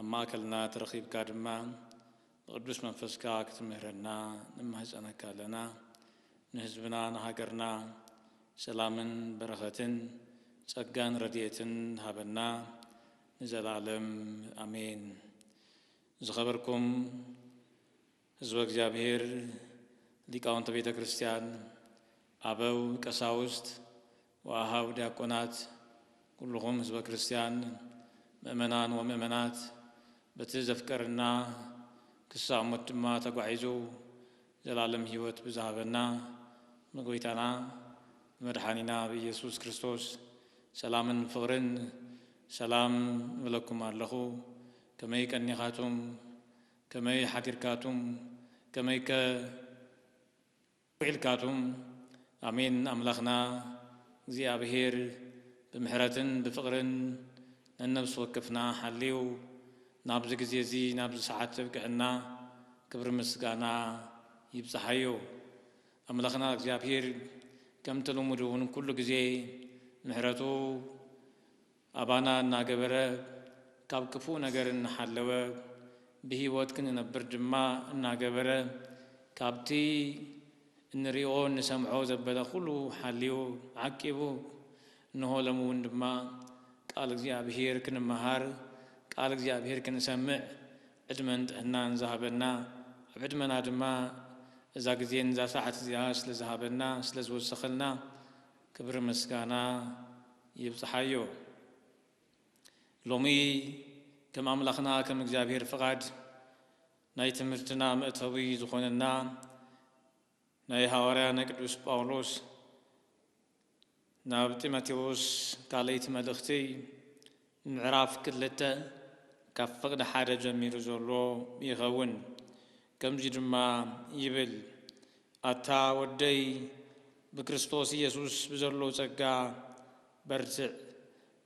ኣብ ማእከልና ተረኺብካ ድማ ብቅዱስ መንፈስካ ክትምህረና ንማህጸነካ ኣለና። ንህዝብና ንሃገርና ሰላምን በረኸትን ጸጋን ረድኤትን ሃበና ንዘላለም ኣሜን። ዝኸበርኩም። ህዝበ እግዚኣብሔር፣ ሊቃውንተ ቤተ ክርስቲያን፣ ኣበው ቀሳውስት ወኣኀው ዲያቆናት፣ ኩሉኹም ህዝበ ክርስቲያን፣ ምእመናን ወምእመናት፣ በቲ ዘፍቀረና ክሳዕ ሞት ድማ ተጓዒዙ ዘለዓለም ሕይወት ብዝሃበና ብጐይታና ብመድሓኒና ብኢየሱስ ክርስቶስ ሰላምን ፍቕርን ሰላም እብለኩም ኣለኹ። ከመይ ቀኒኻቱም? ከመይ ሓዲርካቱም ከመይከ ውዒልካቱም ኣሜን ኣምላክና እግዚኣብሔር ብምሕረትን ብፍቅርን ነነብሲ ወከፍና ሓልዩ ናብዚ ግዜ እዚ ናብዚ ሰዓት ዘብቀዐና ክብሪ ምስጋና ይብጻሓዮ ኣምላክና እግዚኣብሔር ከምቲ ልሙድ እውን ኩሉ ግዜ ምሕረቱ ኣባና እናገበረ ካብ ክፉእ ነገር እናሓለወ ብህይወት ክንነብር ድማ እናገበረ ካብቲ እንሪኦ እንሰምዖ ዘበለ ኩሉ ሓልዩ ዓቂቡ እንሆ ሎሚ እውን ድማ ቃል እግዚኣብሄር ክንመሃር ቃል እግዚኣብሄር ክንሰምዕ ዕድመን ጥዕናን ዝሃበና ኣብ ዕድመና ድማ እዛ ግዜን እዛ ሰዓት እዚኣ ስለዝሃበና ስለዝወሰኸልና ክብሪ ምስጋና ይብጽሓዮ ሎሚ ከም ኣምላኽና ከም እግዚኣብሔር ፍቓድ ናይ ትምህርትና መእተዊ ዝኾነና ናይ ሃዋርያ ናይ ቅዱስ ጳውሎስ ናብ ጢሞቴዎስ ካልኣይቲ መልእኽቲ ምዕራፍ ክልተ ካብ ፍቕዲ ሓደ ጀሚሩ ዘሎ ይኸውን። ከምዚ ድማ ይብል፣ ኣታ ወደይ ብክርስቶስ ኢየሱስ ብዘሎ ጸጋ በርትዕ፣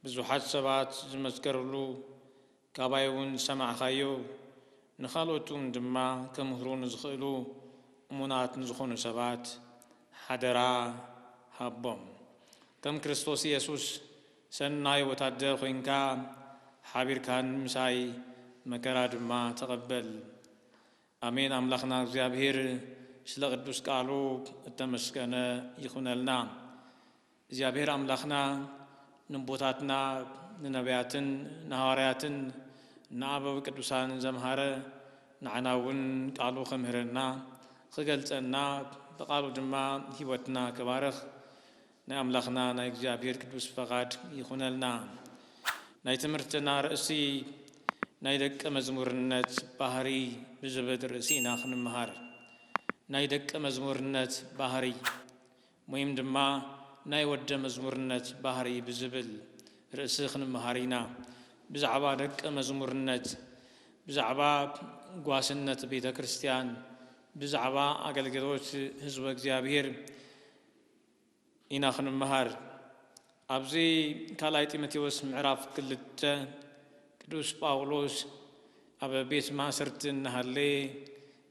ብዙሓት ሰባት ዝመስከርሉ ካባይውን ዝሰማዕካዮ ንኻልኦትውን ድማ ክምህሩ ንዝኽእሉ እሙናት ንዝኾኑ ሰባት ሓደራ ሃቦም። ከም ክርስቶስ ኢየሱስ ሰናይ ወታደር ኮይንካ ሓቢርካን ምሳይ መከራ ድማ ተቀበል። ኣሜን ኣምላክና እግዚኣብሔር ስለ ቅዱስ ቃሉ እተመስገነ ይኩነልና እግዚኣብሔር ኣምላክና ንቦታትና ንነብያትን ንሃዋርያትን ንኣበው ቅዱሳን ዘምሃረ ንዓና እውን ቃሉ ከምህረና ክገልፀና ብቃሉ ድማ ህይወትና ክባርክ ናይ ኣምላኽና ናይ እግዚኣብሔር ቅዱስ ፈቓድ ይኹነልና። ናይ ትምህርትና ርእሲ ናይ ደቀ መዝሙርነት ባህሪ ብዝብል ርእሲ ኢና ክንመሃር። ናይ ደቀ መዝሙርነት ባህሪ ወይም ድማ ናይ ወደ መዝሙርነት ባህሪ ብዝብል ርእሲ ክንመሃር ኢና። ብዛዕባ ደቀ መዝሙርነት፣ ብዛዕባ ጓስነት ቤተ ክርስቲያን፣ ብዛዕባ ኣገልግሎት ህዝበ እግዚኣብሔር፣ ኢና ክንመሃር። ኣብዚ ካልኣይ ጢሞቴዎስ ምዕራፍ ክልተ ቅዱስ ጳውሎስ ኣብ ቤት ማእሰርቲ እናሃለየ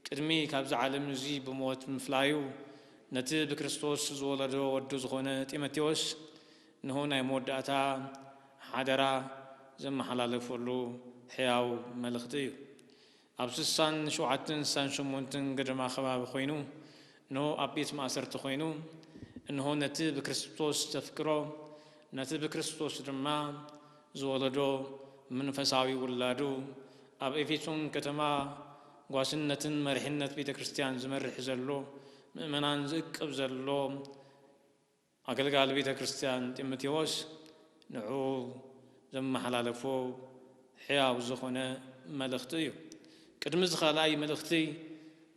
ቅድሚ ካብዚ ዓለም እዚ ብሞት ምፍላዩ ነቲ ብክርስቶስ ዝወለዶ ወዱ ዝኾነ ጢሞቴዎስ እንሆ ናይ መወዳእታ ሓደራ ዘመሓላለፈሉ ሕያው መልእኽቲ እዩ። ኣብ ስሳን ሸውዓተን ስሳን ሸሞንተን ገደማ ከባቢ ኮይኑ እንሆ ኣብ ቤት ማእሰርቲ ኮይኑ እንሆ ነቲ ብክርስቶስ ዘፍቅሮ ነቲ ብክርስቶስ ድማ ዝወለዶ መንፈሳዊ ውላዱ ኣብ ኤፌሶን ከተማ ጓስነትን መሪሕነት ቤተክርስቲያን ዝመርሕ ዘሎ ምእመናን ዝእቅብ ዘሎ ኣገልጋሊ ቤተ ክርስቲያን ጢሞቴዎስ ንዕኡ ዘመሓላለፎ ሕያው ዝኾነ መልእኽቲ እዩ። ቅድሚ እዚ ካልኣይ መልእኽቲ፣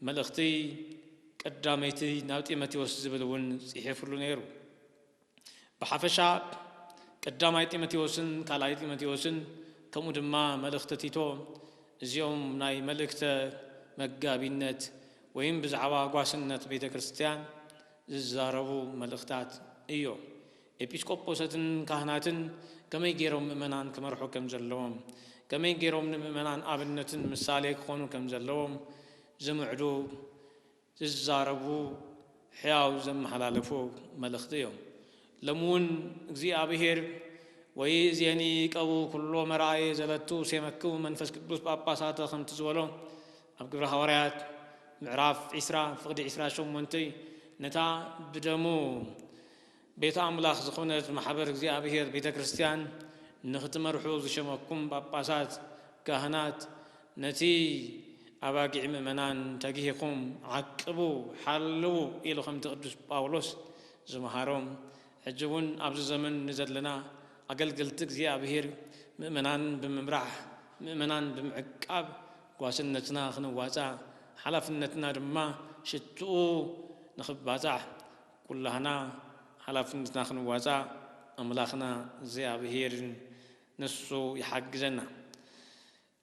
መልእኽቲ ቀዳመይቲ ናብ ጢሞቴዎስ ዝብል እውን ጽሒፍሉ ነይሩ። ብሓፈሻ ቀዳማይ ጢሞቴዎስን ካልኣይ ጢሞቴዎስን ከምኡ ድማ መልእኽቲ ቲቶ እዚኦም ናይ መልእክተ መጋቢነት ወይም ብዛዕባ ጓስነት ቤተ ክርስቲያን ዝዛረቡ መልእኽታት እዮ። ኤጲስቆጶሰትን ካህናትን ከመይ ገይሮም ምእመናን ክመርሑ ከም ዘለዎም፣ ከመይ ገይሮም ንምእመናን ኣብነትን ምሳሌ ክኾኑ ከም ዘለዎም ዝምዕዱ፣ ዝዛረቡ፣ ሕያው ዘመሓላለፉ መልእኽቲ እዮም። ሎሚ ውን እግዚኣብሔር ወይእዜኒ ይቀቡ ኩሎ መርኣየ ዘለቱ ሴመክሙ መንፈስ ቅዱስ ጳጳሳተ ከምቲ ዝበሎ፣ ኣብ ግብረ ሃዋርያት ምዕራፍ ዕስራ ፍቕዲ ዕስራ ሸሞንተ ነታ ብደሙ ቤት ኣምላኽ ዝኾነት ማሕበር እግዚኣብሔር ቤተ ክርስቲያን ንኽትመርሑ ዝሸመኩም ጳጳሳት ካህናት ነቲ ኣባጊዕ ምእመናን ተጊህኹም ዓቅቡ ሓልዉ ኢሉ ከምቲ ቅዱስ ጳውሎስ ዝመሃሮ ሕጂ እውን ኣብዚ ዘመን ንዘለና ኣገልገልቲ እግዚኣብሔር ምእመናን ብምምራሕ ምእመናን ብምዕቃብ ጓስነትና ክንዋፃእ ሓላፍነትና ድማ ሽትኡ ንኽባፃሕ ኩላህና ሓላፍነትና ክንዋፃእ ኣምላኽና እግዚኣብሄር ንሱ ይሓግዘና።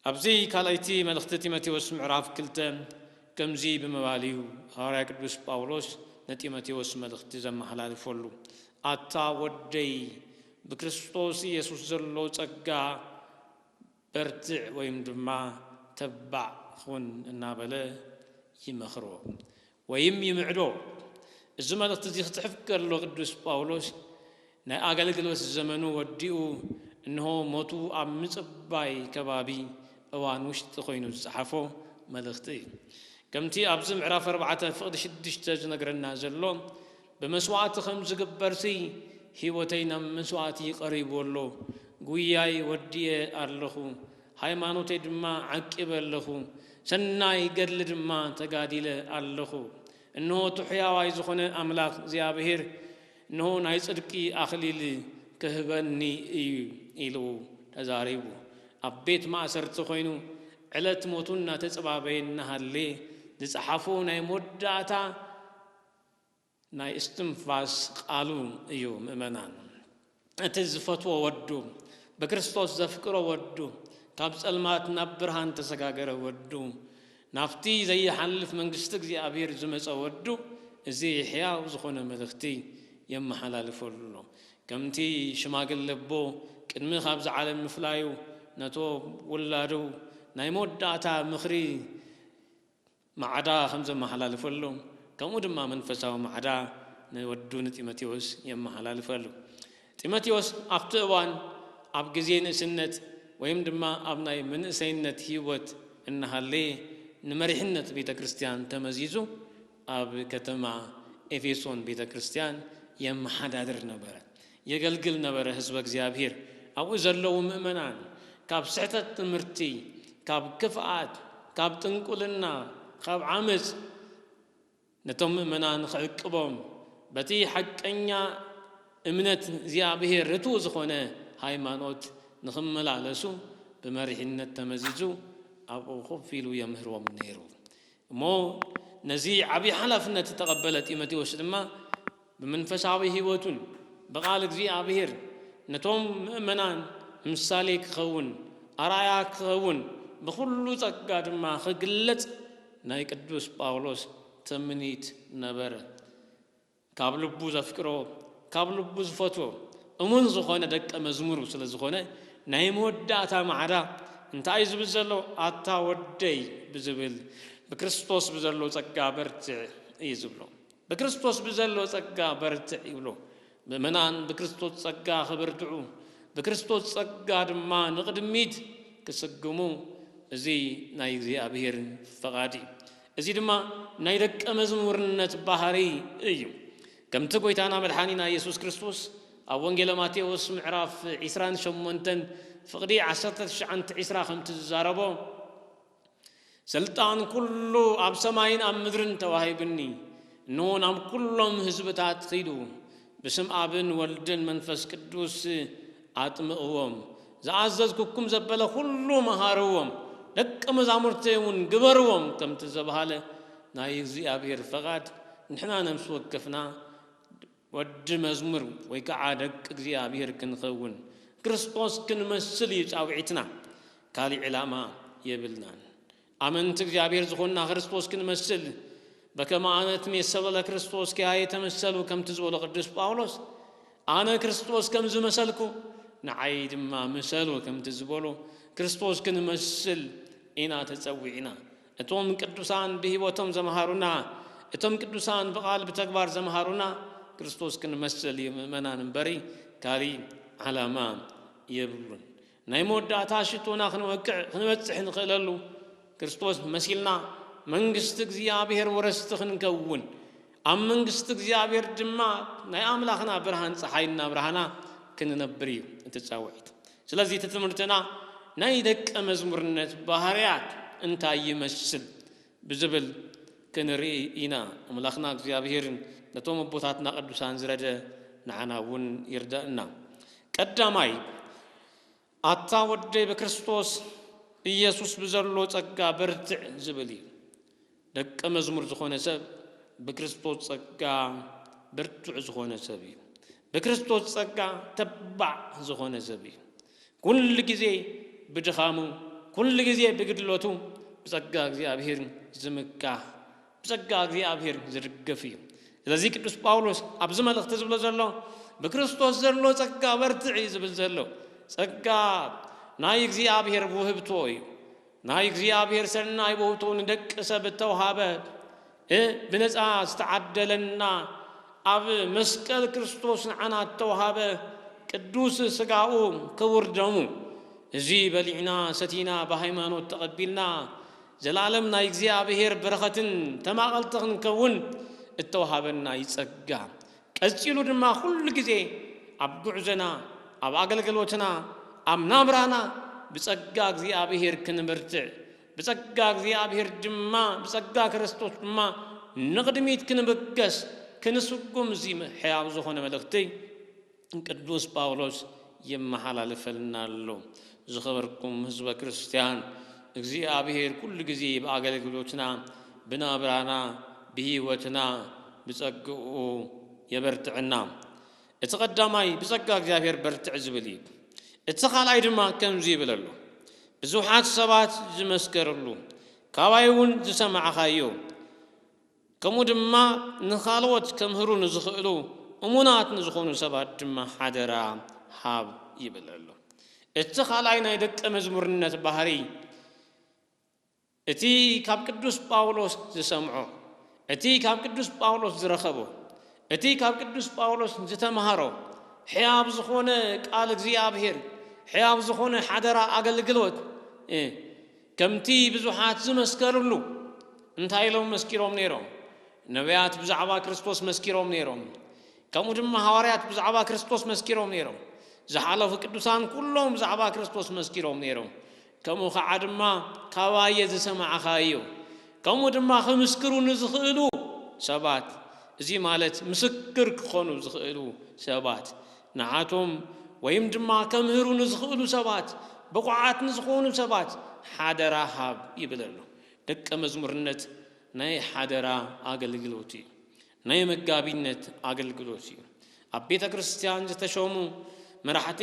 ኣብዚ ካልኣይቲ መልእኽቲ ጢሞቴዎስ ምዕራፍ ክልተ ከምዚ ብምባል እዩ ሃዋርያ ቅዱስ ጳውሎስ ንጢሞቴዎስ መልእኽቲ ዘመሓላልፈሉ፣ ኣታ ወደይ ብክርስቶስ ኢየሱስ ዘሎ ጸጋ በርትዕ ወይም ድማ ተባዕ ኹን እናበለ ይመኽሮ ወይም ይምዕዶ። እዚ መልእኽቲ እዚ ክጽሕፍ ከሎ ቅዱስ ጳውሎስ ናይ ኣገልግሎት ዘመኑ ወዲኡ እንሆ ሞቱ ኣብ ምጽባይ ከባቢ እዋን ውሽጢ ኮይኑ ዝጸሓፎ መልእኽቲ እዩ። ከምቲ ኣብዚ ምዕራፍ ኣርባዕተ ፍቕዲ ሽዱሽተ ዝነግረና ዘሎ ብመስዋእቲ ከም ዝግበርሲ ህይወተይ ናብ መስዋእቲ ቀሪቡ ኣሎ። ጉያይ ወዲኤ ኣለኹ፣ ሃይማኖተይ ድማ ዓቂበ ኣለኹ፣ ሰናይ ገድሊ ድማ ተጋዲለ ኣለኹ። እንሆ እቲ ሕያዋይ ዝኾነ ኣምላኽ እግዚኣብሄር እንሆ ናይ ጽድቂ ኣኽሊል ክህበኒ እዩ ኢሉ ተዛሪቡ። ኣብ ቤት ማእሰርቲ ኮይኑ ዕለት ሞቱ እናተጸባበየ እናሃለየ ዝጸሓፎ ናይ መወዳእታ ናይ እስትንፋስ ቃሉ እዩ ምእመናን። እቲ ዝፈትዎ ወዱ ብክርስቶስ ዘፍቅሮ ወዱ ካብ ጸልማት ናብ ብርሃን ተሰጋገረ ወዱ ናብቲ ዘይሓልፍ መንግስቲ እግዚኣብሔር ዝመጸ ወዱ እዚ ሕያው ዝኾነ መልእኽቲ የመሓላልፈሉ ኣሎ። ከምቲ ሽማግለ ኣቦ ቅድሚ ካብዚ ዓለም ምፍላዩ ነቶም ውላዱ ናይ መወዳእታ ምኽሪ ማዕዳ ከም ዘመሓላልፈሉ ከምኡ ድማ መንፈሳዊ ማዕዳ ንወዱ ንጢሞቴዎስ የመሓላልፈሉ። ጢሞቴዎስ ኣብቲ እዋን ኣብ ግዜ ንእስነት ወይም ድማ ኣብ ናይ መንእሰይነት ህይወት እናሃለየ ንመሪሕነት ቤተ ክርስቲያን ተመዚዙ ኣብ ከተማ ኤፌሶን ቤተ ክርስቲያን የመሓዳድር ነበረ። የገልግል ነበረ ህዝበ እግዚኣብሔር ኣብኡ ዘለዉ ምእመናን ካብ ስሕተት ትምህርቲ ካብ ክፍኣት ካብ ጥንቁልና ኻብ ዓመጽ ነቶም ምእመናን ኽዕቅቦም በቲ ሓቀኛ እምነት እግዚኣብሔር ርቱው ዝኾነ ሃይማኖት ንኽመላለሱ ብመሪሕነት ተመዚዙ ኣብኡ ኮፍ ኢሉ የምህሮም ነይሩ እሞ ነዚ ዓብዪ ሓላፍነት ዝተቐበለ ጢሞቴዎስ ድማ ብመንፈሳዊ ሕይወቱን ብቓል እግዚኣብሔር ነቶም ምእመናን ምሳሌ ክኸውን ኣርኣያ ክኸውን ብኹሉ ጸጋ ድማ ክግለጽ ናይ ቅዱስ ጳውሎስ ትምኒት ነበረ። ካብ ልቡ ዘፍቅሮ ካብ ልቡ ዝፈትዎ እሙን ዝኾነ ደቀ መዝሙሩ ስለ ዝኾነ ናይ መወዳእታ ማዕዳ እንታይ እዩ ዝብል ዘሎ ኣታ ወደይ ብዝብል ብክርስቶስ ብዘሎ ጸጋ በርትዕ እዩ ዝብሎ። ብክርስቶስ ብዘሎ ጸጋ በርትዕ ይብሎ። ምእመናን ብክርስቶስ ጸጋ ክብርትዑ፣ ብክርስቶስ ጸጋ ድማ ንቕድሚት ክስጉሙ እዚ ናይ እግዚኣብሔር ፈቓድ እዩ። እዚ ድማ ናይ ደቀ መዝሙርነት ባህሪ እዩ። ከምቲ ጎይታና መድሓኒና ኢየሱስ ክርስቶስ ኣብ ወንጌለ ማቴዎስ ምዕራፍ ዒስራን ሸሞንተን ፍቕዲ ዓሰርተ ትሽዓን ትዒስራ ከምቲ ዝዛረቦ፣ ሥልጣን ኵሉ ኣብ ሰማይን ኣብ ምድርን ተዋሂቡኒ፣ እንሆ ናብ ኵሎም ሕዝብታት ኺዱ፣ ብስም ኣብን ወልድን መንፈስ ቅዱስ ኣጥምቕዎም፣ ዝኣዘዝኩኩም ዘበለ ዅሉ ምሃርዎም፣ ደቀ መዛሙርተይውን ግበርዎም ከምቲ ዝተባህለ ናይ እግዚኣብሔር ፈቓድ ንሕና ነፍሲ ወከፍና ወዲ መዝሙር ወይ ከኣ ደቂ እግዚኣብሔር ክንኸውን ክርስቶስ ክንመስል እዩ ጻውዒትና ካሊእ ዕላማ የብልናን ኣመንቲ እግዚኣብሔር ዝኾንና ክርስቶስ ክንመስል በከመ ኣነ እትሜሰሎ ለክርስቶስ ኪያየ ተመሰሉ ከምቲ ዝበሎ ቅዱስ ጳውሎስ ኣነ ክርስቶስ ከም ዝመሰልኩ ንዓይ ድማ ምሰሉ ከምቲ ዝበሎ ክርስቶስ ክንመስል ኢና ተጸዊዕና እቶም ቅዱሳን ብህይወቶም ዘምሃሩና፣ እቶም ቅዱሳን ብቃል ብተግባር ዘምሃሩና ክርስቶስ ክንመስል እዩ ምእመናን እምበሪ ካሊእ ዓላማ የብሉን። ናይ መወዳእታ ሽቶና ክንወቅዕ ክንበጽሕ ንኽእለሉ ክርስቶስ መሲልና መንግስቲ እግዚኣብሔር ወረስቲ ክንከውን ኣብ መንግስቲ እግዚኣብሔር ድማ ናይ ኣምላኽና ብርሃን ፀሓይ እናብርሃና ክንነብር እዩ እቲ ፃውዒት። ስለዚ እቲ ትምህርትና ናይ ደቀ መዝሙርነት ባህርያት እንታይ ይመስል ብዝብል ክንርኢ ኢና። ኣምላኽና እግዚኣብሄር ነቶም ኣቦታትና ቅዱሳን ዝረደ ንዓና እውን ይርደእና። ቀዳማይ ኣታ ወደይ በክርስቶስ ኢየሱስ ብዘሎ ጸጋ በርትዕ ዝብል እዩ። ደቀ መዝሙር ዝኾነ ሰብ ብክርስቶስ ጸጋ ብርቱዕ ዝኾነ ሰብ እዩ። ብክርስቶስ ጸጋ ተባዕ ዝኾነ ሰብ እዩ። ኩሉ ግዜ ብድኻሙ፣ ኩሉ ግዜ ብግድለቱ ብጸጋ እግዚኣብሔር ዝምካሕ፣ ብጸጋ እግዚኣብሔር ዝድገፍ እዩ። ስለዚ ቅዱስ ጳውሎስ ኣብዚ መልእኽቲ ዝብሎ ዘሎ ብክርስቶስ ዘሎ ጸጋ በርትዕ እዩ ዝብል ዘሎ። ጸጋ ናይ እግዚኣብሔር ውህብቶ እዩ። ናይ እግዚኣብሔር ሠናይ ውህቱ ንደቂ ሰብ እተውሃበ እ ብነፃ ዝተዓደለና ኣብ መስቀል ክርስቶስ ንዓና እተውሃበ ቅዱስ ሥጋኡ ክቡር ደሙ እዙይ በሊዕና ሰቲና ብሃይማኖት ተቐቢልና ዘለዓለም ናይ እግዚኣብሔር በረኸትን ተማቐልቲ ክንከውን እተውሃበና እዩ ጸጋ ቀጺሉ ድማ ኩሉ ግዜ ኣብ ጉዕዞና ኣብ ኣገልግሎትና ኣብ ናብራና ብጸጋ እግዚኣብሄር ክንብርትዕ ብጸጋ እግዚኣብሄር ድማ ብጸጋ ክርስቶስ ድማ ንቕድሚት ክንብገስ ክንስጉም እዚ ሕያው ዝኾነ መልእኽቲ ቅዱስ ጳውሎስ የመሓላልፈልና ኣሎ። ዝኸበርኩም ህዝበ ክርስትያን፣ እግዚኣብሔር ኩሉ ጊዜ ብኣገልግሎትና፣ ብናብራና፣ ብሕይወትና ብጸግኡ የበርትዐና። እቲ ቀዳማይ ብጸጋ እግዚኣብሔር በርትዕ ዝብል እዩ። እቲ ካልኣይ ድማ ከምዚ ይብል ኣሎ፣ ብዙኃት ሰባት ዝመስከርሉ፣ ካባይ እውን ዝሰማዕኻዮ፣ ከምኡ ድማ ንኻልኦት ከምህሩ ንዝኽእሉ እሙናት ንዝኾኑ ሰባት ድማ ሓደራ ሃብ ይብል ኣሎ። እቲ ካልኣይ ናይ ደቀ መዝሙርነት ባህርይ እቲ ካብ ቅዱስ ጳውሎስ ዝሰምዖ፣ እቲ ካብ ቅዱስ ጳውሎስ ዝረኸቦ፣ እቲ ካብ ቅዱስ ጳውሎስ ዝተምሃሮ ሕያው ዝኾነ ቃል እግዚኣብሔር፣ ሕያው ዝኾነ ሓደራ ኣገልግሎት፣ ከምቲ ብዙሓት ዝመስከርሉ። እንታይ ኢሎም መስኪሮም ነይሮም? ነብያት ብዛዕባ ክርስቶስ መስኪሮም ነይሮም። ከምኡ ድማ ሃዋርያት ብዛዕባ ክርስቶስ መስኪሮም ነይሮም። ዝሓለፉ ቅዱሳን ኩሎም ብዛዕባ ክርስቶስ መስኪሮም ነይሮም። ከምኡ ከዓ ድማ ካባየ ዝሰማዕኻዮ ከምኡ ድማ ክምስክሩ ንዝኽእሉ ሰባት እዚ ማለት ምስክር ክኾኑ ዝኽእሉ ሰባት ንዓቶም ወይም ድማ ከምህሩ ንዝኽእሉ ሰባት፣ ብቑዓት ንዝኾኑ ሰባት ሓደራ ሃብ ይብል ኣሎ። ደቀ መዝሙርነት ናይ ሓደራ ኣገልግሎት እዩ። ናይ መጋቢነት ኣገልግሎት እዩ። ኣብ ቤተ ክርስቲያን ዝተሾሙ መራሕቲ፣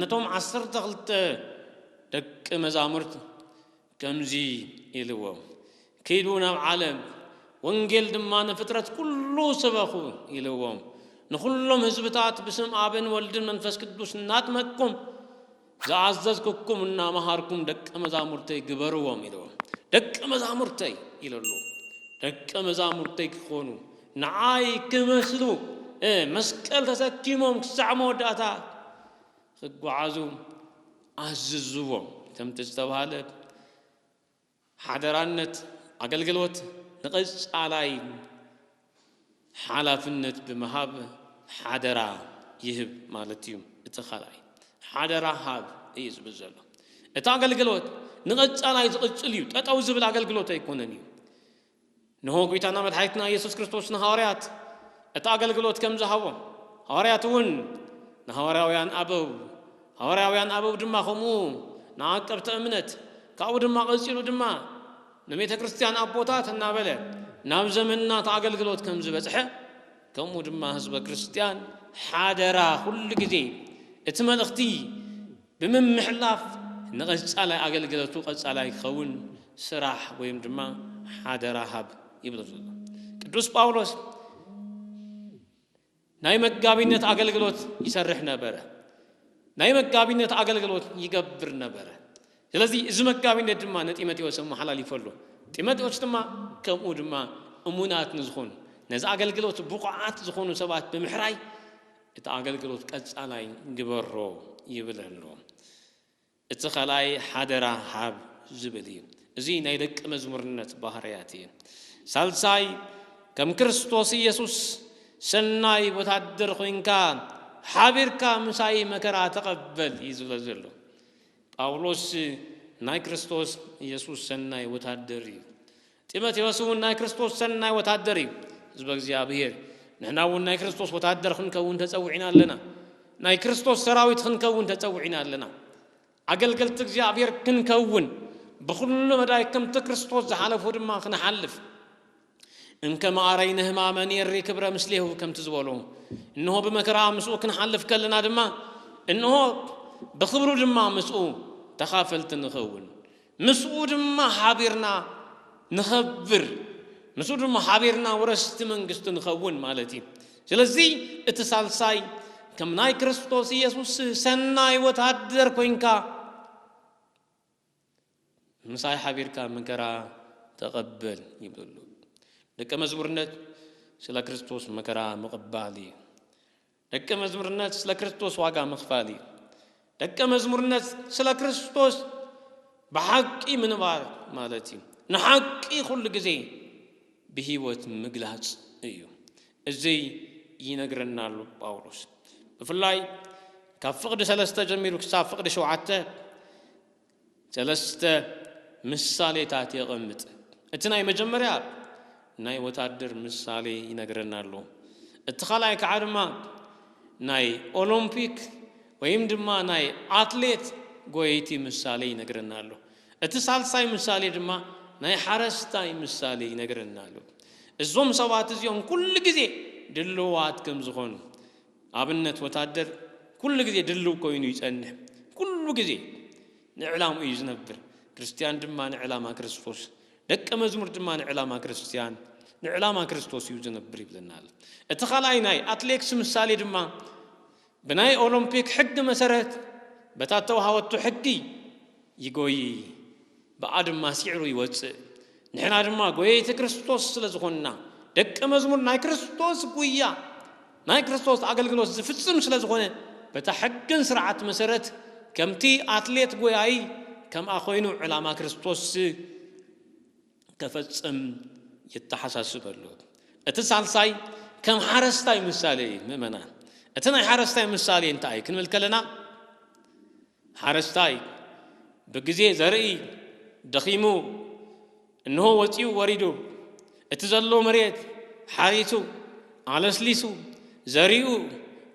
ነቶም ዓሰርተ ክልተ ደቂ መዛሙርቱ ከምዚ ኢልዎም፣ ኪዱ ናብ ዓለም፣ ወንጌል ድማ ንፍጥረት ኩሉ ስበኹ ኢልዎም። ንኹሎም ህዝብታት ብስም ኣብን ወልድን መንፈስ ቅዱስ እናጥመቅኩም ዝኣዘዝኩኩም እናመሃርኩም ደቂ መዛሙርተይ ግበርዎም ኢልዎም። ደቂ መዛሙርተይ ኢለሉ ደቂ መዛሙርተይ ክኾኑ ንዓይ ክመስሉ መስቀል ተሰኪሞም ክሳዕ መወዳእታ ክጓዓዙ ኣዝዝዎም። ከምቲ ዝተባህለ ሓደራነት ኣገልግሎት ንቐጻላይ ሓላፍነት ብምሃብ ሓደራ ይህብ ማለት እዩ። እቲ ካልኣይ ሓደራ ሃብ እዩ ዝብል ዘሎ። እቲ ኣገልግሎት ንቐጻላይ ዝቕጽል እዩ፣ ጠጠው ዝብል ኣገልግሎት ኣይኮነን እዩ። እንሆ ጉይታና መድሓኒትና እየሱስ ክርስቶስ ንሃዋርያት እቲ ኣገልግሎት ከም ዝሃቦም ሃዋርያት እውን ንሃዋርያውያን ኣበው ሃዋርያውያን ኣበው ድማ ከምኡ ንዓቀብቲ እምነት ካብኡ ድማ ቀጺሉ ድማ ንቤተ ክርስቲያን ኣቦታት እናበለ ናብ ዘመንና እቲ ኣገልግሎት ከም ዝበጽሐ ከምኡ ድማ ህዝበ ክርስቲያን ሓደራ ኩሉ ግዜ እቲ መልእኽቲ ብምምሕላፍ ንቐፃላይ ኣገልግለቱ ቐፃላይ ክኸውን ስራሕ ወይም ድማ ሓደራ ሃብ ይብሎ ዘሎ ቅዱስ ጳውሎስ ናይ መጋቢነት ኣገልግሎት ይሰርሕ ነበረ ናይ መጋቢነት ኣገልግሎት ይገብር ነበረ ስለዚ እዚ መጋቢነት ድማ ንጢሞቴዎስ ኣመሓላሊፎ ኣሎ ጢሞቴዎስ ድማ ከምኡ ድማ እሙናት ንዝኾኑ ነዚ ኣገልግሎት ብቑዓት ዝኾኑ ሰባት ብምሕራይ እቲ ኣገልግሎት ቀጻላይ ግበሮ ይብል ኣሎ። እቲ ካልኣይ ሓደራ ሃብ ዝብል እዩ። እዚ ናይ ደቂ መዝሙርነት ባህርያት እዩ። ሳልሳይ ከም ክርስቶስ ኢየሱስ ሰናይ ወታደር ኮይንካ ሓቢርካ ምሳይ መከራ ተቐበል እዩ ዝብለ ዘሎ። ጳውሎስ ናይ ክርስቶስ ኢየሱስ ሰናይ ወታደር እዩ። ጢሞቴዎስ እውን ናይ ክርስቶስ ሰናይ ወታደር እዩ። ህዝበ እግዚኣብሔር ንሕና እውን ናይ ክርስቶስ ወታደር ክንከውን ተጸዊዕና ኣለና። ናይ ክርስቶስ ሰራዊት ክንከውን ተጸዊዕና ኣለና። ኣገልገልቲ እግዚኣብሔር ክንከውን ብኹሉ መዳይ ከምቲ ክርስቶስ ዝሓለፎ ድማ ክንሓልፍ እንከ መኣረይ ነህማመ ኔሪ ክብረ ምስሌሁ ከምቲ ዝበሎ እንሆ ብመከራ ምስኡ ክንሓልፍ ከለና ድማ እንሆ ብኽብሩ ድማ ምስኡ ተኻፈልቲ ንኸውን። ምስኡ ድማ ሓቢርና ንኸብር፣ ምስኡ ድማ ሓቢርና ወረስቲ መንግስቱ ንኸውን ማለት እዩ። ስለዚ እቲ ሳልሳይ ከም ናይ ክርስቶስ ኢየሱስ ሰናይ ወተሃደር ኮይንካ ምሳይ ሓቢርካ መከራ ተቐበል ይብሉ። ደቀ መዝሙርነት ስለ ክርስቶስ መከራ ምቕባል እዩ። ደቀ መዝሙርነት ስለ ክርስቶስ ዋጋ ምኽፋል እዩ። ደቀ መዝሙርነት ስለ ክርስቶስ ብሓቂ ምንባር ማለት እዩ። ንሓቂ ኩሉ ግዜ ብህይወት ምግላጽ እዩ። እዚ ይነግረና ኣሎ ጳውሎስ ብፍላይ ካብ ፍቕዲ ሰለስተ ጀሚሩ ክሳብ ፍቕዲ ሸውዓተ ሰለስተ ምሳሌታት የቐምጥ። እቲ ናይ መጀመርያ ናይ ወታደር ምሳሌ ይነግረና ኣሎ። እቲ ካልኣይ ከዓ ድማ ናይ ኦሎምፒክ ወይም ድማ ናይ ኣትሌት ጎየይቲ ምሳሌ ይነግረና ኣሎ። እቲ ሳልሳይ ምሳሌ ድማ ናይ ሓረስታይ ምሳሌ ይነግረና ኣሎ። እዞም ሰባት እዚኦም ኩሉ ግዜ ድልዋት ከም ዝኾኑ ኣብነት ወታደር ኩሉ ግዜ ድልው ኮይኑ ይጸንሕ ኩሉ ግዜ ንዕላምኡ እዩ ዝነብር ክርስትያን ድማ ንዕላማ ክርስቶስ ደቀ መዝሙር ድማ ንዕላማ ክርስትያን ንዕላማ ክርስቶስ እዩ ዝነብር ይብለና ኣሎ እቲ ካልኣይ ናይ ኣትሌክስ ምሳሌ ድማ ብናይ ኦሎምፒክ ሕጊ መሰረት በታ ተዋሃወቱ ሕጊ ይጎይ ብኣ ድማ ሲዕሩ ይወጽእ። ንሕና ድማ ጎየይቲ ክርስቶስ ስለ ዝኾንና፣ ደቀ መዝሙር ናይ ክርስቶስ ጉያ ናይ ክርስቶስ ኣገልግሎት ዝፍጽም ስለ ዝኾነ፣ በታ ሕግን ስርዓት መሰረት ከምቲ ኣትሌት ጎያዪ ከምኣ ኮይኑ ዕላማ ክርስቶስ ከፈጽም ይተሓሳስብ ኣሎ። እቲ ሳልሳይ ከም ሓረስታይ ምሳሌ እዩ። ምእመናን እቲ ናይ ሓረስታይ ምሳሌ እንታይ እዩ ክንብል ከለና ሓረስታይ ብግዜ ዘርኢ ደኺሙ እንሆ ወጺኡ ወሪዱ እቲ ዘሎ መሬት ሓሪሱ ኣለስሊሱ ዘሪኡ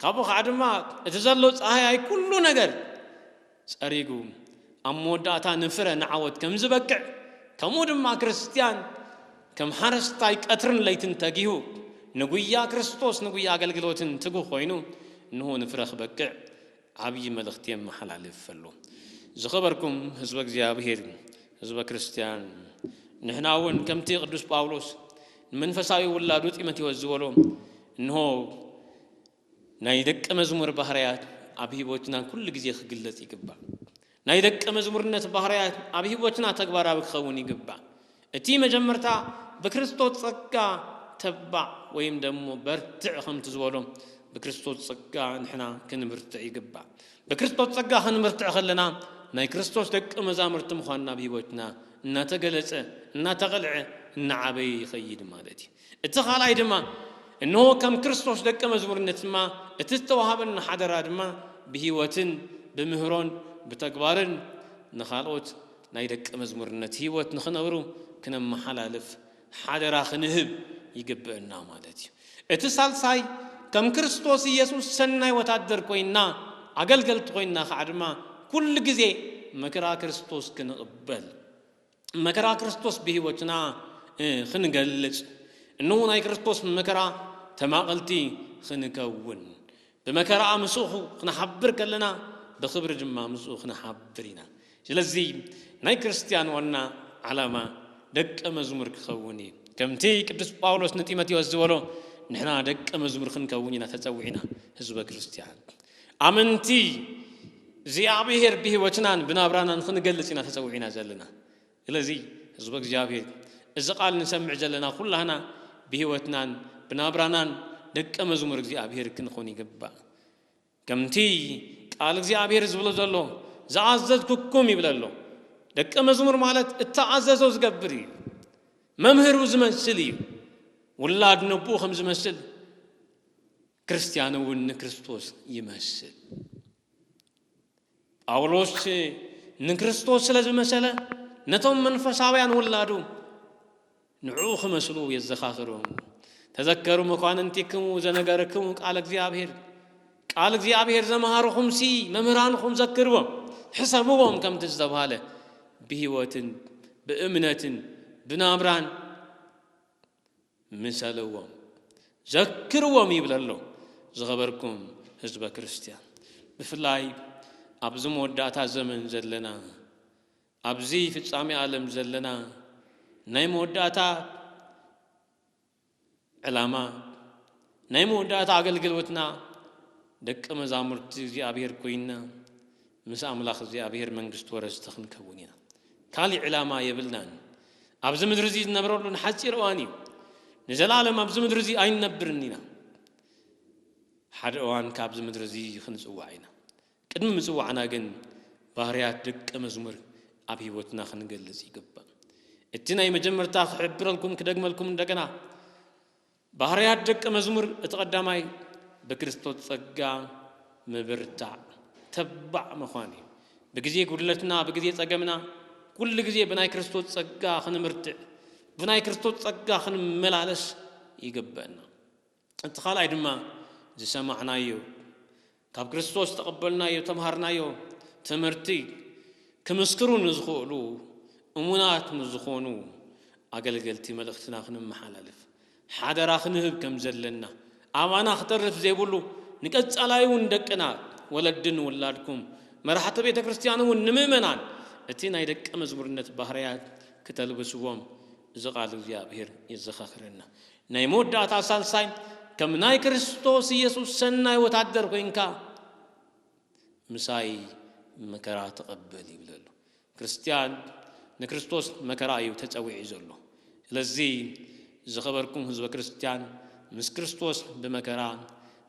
ካብኡ ኸኣ ድማ እቲ ዘሎ ጻህያይ ኩሉ ነገር ጸሪጉ ኣብ መወዳእታ ንፍረ ንዓወት ከም ዝበቅዕ ከምኡ ድማ ክርስትያን ከም ሓረስታይ ቀትርን ለይትን ተጊሁ ንጉያ ክርስቶስ ንጉያ ኣገልግሎትን ትጉህ ኮይኑ እንሆ ንፍረ ክበቅዕ ዓብዪ መልእኽቲ የመሓላልፍ ኣሎ። ዝኸበርኩም ህዝበ እግዚኣብሄር፣ ህዝበ ክርስቲያን፣ ንሕና እውን ከምቲ ቅዱስ ጳውሎስ ንመንፈሳዊ ውላዱ ጢሞቴዎስ ዝበሎ እንሆ ናይ ደቀ መዝሙር ባህርያት ኣብ ህይወትና ኩሉ ግዜ ክግለጽ ይግባእ። ናይ ደቀ መዝሙርነት ባህርያት ኣብ ሕይወትና ተግባራዊ ክኸውን ይግባእ። እቲ መጀመርታ ብክርስቶስ ጸጋ ተባዕ ወይም ደሞ በርትዕ ከምቲ ዝበሎ ብክርስቶስ ጸጋ ንሕና ክንብርትዕ ይግባእ። ብክርስቶስ ጸጋ ክንብርትዕ ከለና ናይ ክርስቶስ ደቀ መዛሙርቲ ምዃንና ኣብ ሕይወትና እናተገለጸ፣ እናተቐልዐ፣ እናዓበየ ይኸይድ ማለት እዩ። እቲ ካልኣይ ድማ እንሆ ከም ክርስቶስ ደቀ መዝሙርነት ድማ እቲ ዝተዋሃበና ሓደራ ድማ ብህይወትን ብምህሮን ብተግባርን ንኻልኦት ናይ ደቀ መዝሙርነት ህይወት ንኽነብሩ ክነመሓላልፍ ሓደራ ክንህብ ይግብእና ማለት እዩ። እቲ ሳልሳይ ከም ክርስቶስ ኢየሱስ ሰናይ ወታደር ኮይና ኣገልገልቲ ኮይና ከዓ ድማ ኩሉ ግዜ መክራ ክርስቶስ ክንቕበል መከራ ክርስቶስ ብሕይወትና ኽንገልጽ እንሆ ናይ ክርስቶስ መከራ ተማቐልቲ ኽንከውን ብመከራ ምስኡ ኽንሓብር ከለና ብኽብሪ ድማ ምስኡ ኽንሓብር ኢና ስለዚ ናይ ክርስትያን ዋና ዓላማ ደቀ መዝሙር ክኸውን እዩ ከምቲ ቅዱስ ጳውሎስ ንጢሞቴዎስ ዝበሎ ንሕና ደቀ መዝሙር ኽንከውን ኢና ተጸዊዕና ህዝበ ክርስትያን ኣመንቲ እግዚኣብሔር ብሕይወትናን ብናብራናን ክንገልጽ ኢና ተጸዊዕና ዘለና። ስለዚ ሕዝበ እግዚኣብሔር እዚ ቃል ንሰምዕ ዘለና ኩላህና ብሕይወትናን ብናብራናን ደቀ መዝሙር እግዚኣብሔር ክንኾን ይግባእ። ከምቲ ቃል እግዚኣብሔር ዝብሎ ዘሎ ዝኣዘዝኩኩም ይብል ኣሎ። ደቀ መዝሙር ማለት እተኣዘዞ ዝገብር እዩ። መምህሩ ዝመስል እዩ። ውላድ ነቦኡ ከም ዝመስል ክርስትያን እውን ንክርስቶስ ይመስል። ጳውሎስ ንክርስቶስ ስለ ዝመሰለ ነቶም መንፈሳውያን ውላዱ ንዕኡ ክመስሉ የዘኻኽሮም። ተዘከሩ መኳንንቲክሙ ዘነገርክሙ ቃል እግዚኣብሔር ቃል እግዚኣብሔር ዘምሃርኹምሲ መምህራንኹም ዘክርዎም ሕሰብዎም ከምቲ ዝተብሃለ ብህይወትን ብእምነትን ብናብራን ምሰልዎም ዘክርዎም ይብል ኣሎ። ዝኸበርኩም ህዝበ ክርስትያን ብፍላይ ኣብዚ መወዳእታ ዘመን ዘለና ኣብዚ ፍጻሜ ኣለም ዘለና ናይ መወዳእታ ዕላማ ናይ መወዳእታ ኣገልግሎትና ደቂ መዛሙርቲ እግዚኣብሔር ኮይና ምስ ኣምላኽ እግዚኣብሄር መንግስቱ ወረስቲ ክንከውን ኢና። ካልእ ዕላማ የብልናን። ኣብዚ ምድሪ እዚ ዝነብረሉ ንሓጺር እዋን እዩ። ንዘለኣለም ኣብዚ ምድሪ እዚ ኣይንነብርን ኢና። ሓደ እዋን ካብዚ ምድሪ እዚ ክንጽዋዕ ኢና። ቅድሚ ምጽዋዕና ግን ባህርያት ደቀ መዝሙር ኣብ ህይወትና ክንገልጽ ይግባእ። እቲ ናይ መጀመርታ ክሕብረልኩም ክደግመልኩም እንደገና ባህርያት ደቀ መዝሙር እቲ ቀዳማይ ብክርስቶስ ጸጋ ምብርታዕ፣ ተባዕ ምዃን እዩ። ብግዜ ጉድለትና፣ ብግዜ ጸገምና ኩሉ ግዜ ብናይ ክርስቶስ ጸጋ ክንብርትዕ፣ ብናይ ክርስቶስ ጸጋ ክንመላለስ ይግበእና። እቲ ካልኣይ ድማ ዝሰማዕናዮ ካብ ክርስቶስ ዝተቐበልናዮ እተምሃርናዮ ትምህርቲ ክምስክሩ ንዝኽእሉ እሙናት ምስ ዝኾኑ ኣገልገልቲ መልእኽትና ክነመሓላልፍ ሓደራ ክንህብ ከም ዘለና ኣባና ክተርፍ ዘይብሉ ንቀጻላይ እውን ደቅና ወለዲ ንውላድኩም መራሕቲ ቤተ ክርስቲያን እውን ንምእመናን እቲ ናይ ደቀ መዝሙርነት ባህርያት ክተልብስዎም እዚ ቃል እግዚኣብሔር የዘኻኽረና። ናይ መወዳእታ ሳልሳይ ከም ናይ ክርስቶስ ኢየሱስ ሰናይ ወታደር ኮይንካ ምሳይ መከራ ተቐበል ይብል ኣሎ። ክርስትያን ንክርስቶስ መከራ እዩ ተጸዊዑ ዘሎ። ስለዚ ዝኸበርኩም ህዝበ ክርስትያን ምስ ክርስቶስ ብመከራ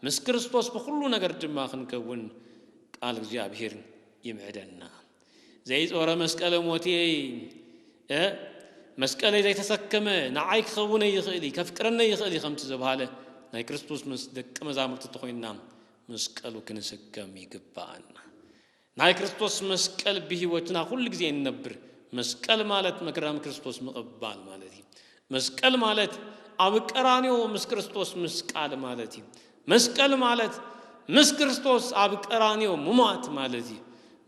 ምስ ክርስቶስ ብኹሉ ነገር ድማ ክንከውን ቃል እግዚኣብሔር ይምዕደና። ዘይጾረ መስቀለ ሞትየይ እ መስቀለይ ዘይተሰከመ ንዓይ ክኸውነይ ይኽእል እዩ ከፍቅረነይ ይኽእል እዩ ከምቲ ዘብሃለ ናይ ክርስቶስ ምስ ደቂ መዛሙርቲ ተኾይንና መስቀሉ ክንስከም ይግባኣና ናይ ክርስቶስ መስቀል ብህይወትና ኩሉ ግዜ እንነብር መስቀል ማለት መከራ ክርስቶስ ምቕባል ማለት እዩ መስቀል ማለት ኣብ ቀራንዮ ምስ ክርስቶስ ምስቃል ማለት እዩ። መስቀል ማለት ምስ ክርስቶስ ኣብ ቀራንዮ ምሟት ማለት እዩ።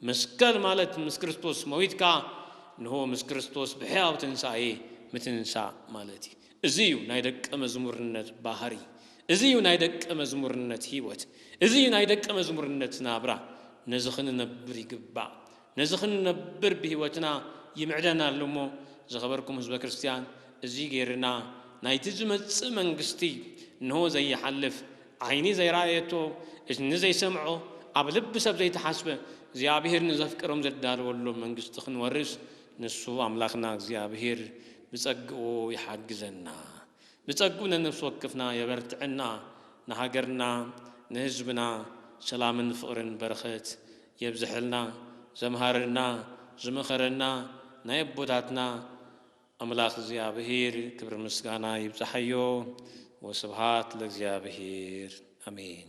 መስቀል ማለት ምስ ክርስቶስ መዊትካ እንሆ ምስ ክርስቶስ ብሕያው ትንሳኤ ምትንሳእ ማለት እዩ። እዚ እዩ ናይ ደቀ መዝሙርነት ባህሪ። እዚ እዩ ናይ ደቀ መዝሙርነት ሕይወት። እዚ እዩ ናይ ደቀ መዝሙርነት ናብራ። ነዚ ክንነብር ይግባእ። ነዚ ክንነብር ብሕይወትና ይምዕደና ኣሎ እሞ ዝኸበርኩም ሕዝበ ክርስቲያን እዙይ ገይርና ናይቲ ዝመጽእ መንግሥቲ እንሆ ዘይሓልፍ ዓይኒ ዘይረኣየቶ እዝኒ ዘይሰምዖ ኣብ ልቢ ሰብ ዘይተሓስበ እግዚኣብሔር ንዘፍቅሮም ዘዳለወሎም መንግሥቲ ክንወርስ ንሱ ኣምላኽና እግዚኣብሔር ብጸግኡ ይሓግዘና ብጸግኡ ነነፍሲ ወክፍና የበርትዐና ንሃገርና ንሕዝብና ሰላምን ፍቕርን በረኸት የብዘሐልና ዘምሃረና ዝመኸረና ናይ ኣቦታትና ኣምላኽ እግዚኣብሔር ክብሪ ምስጋና ይብጻሓዮ ወስብሃት ለእግዚኣብሔር ኣሜን።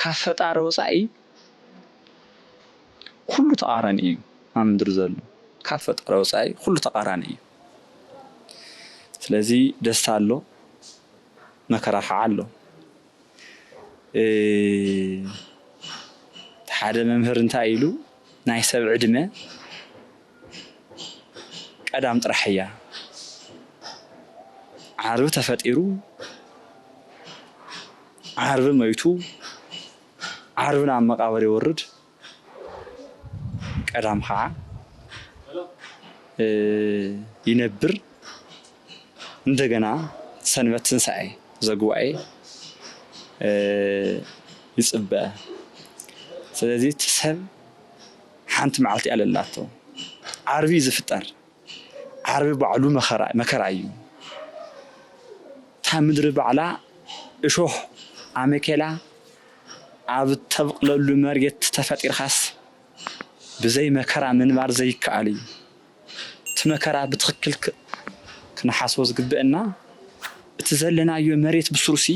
ካብ ፈጣሪ ወጻኢ ኩሉ ተቃራኒ እዩ ኣብ ምድሪ ዘሎ ካብ ፈጣሪ ወጻኢ ኩሉ ተቃራኒ እዩ ስለዚ ደስታ ኣሎ መከራ ካዓ ኣሎ ሓደ መምህር እንታይ ኢሉ ናይ ሰብ ዕድመ ቀዳም ጥራሕ እያ ዓርቢ ተፈጢሩ ዓርቢ መይቱ ዓርቢ ናብ መቃብር ይወርድ ቀዳም ከዓ ይነብር እንደገና ሰንበት ትንሣኤ ዘጉባኤ ይፅበ ስለዚህ ሰብ ሓንቲ መዓልቲ ኣለላቶ ዓርቢ ዝፍጠር ዓርቢ ባዕሉ መከራ እዩ እታ ምድሪ ባዕላ እሾህ ኣመኬላ ኣብ እተብቅለሉ መርየት ተፈጢርካስ ብዘይ መከራ ምንባር ዘይከኣል እዩ እቲ መከራ ብትክክል ክንሓስቦ ዝግበእና እቲ ዘለናዮ መርየት ብስሩሲ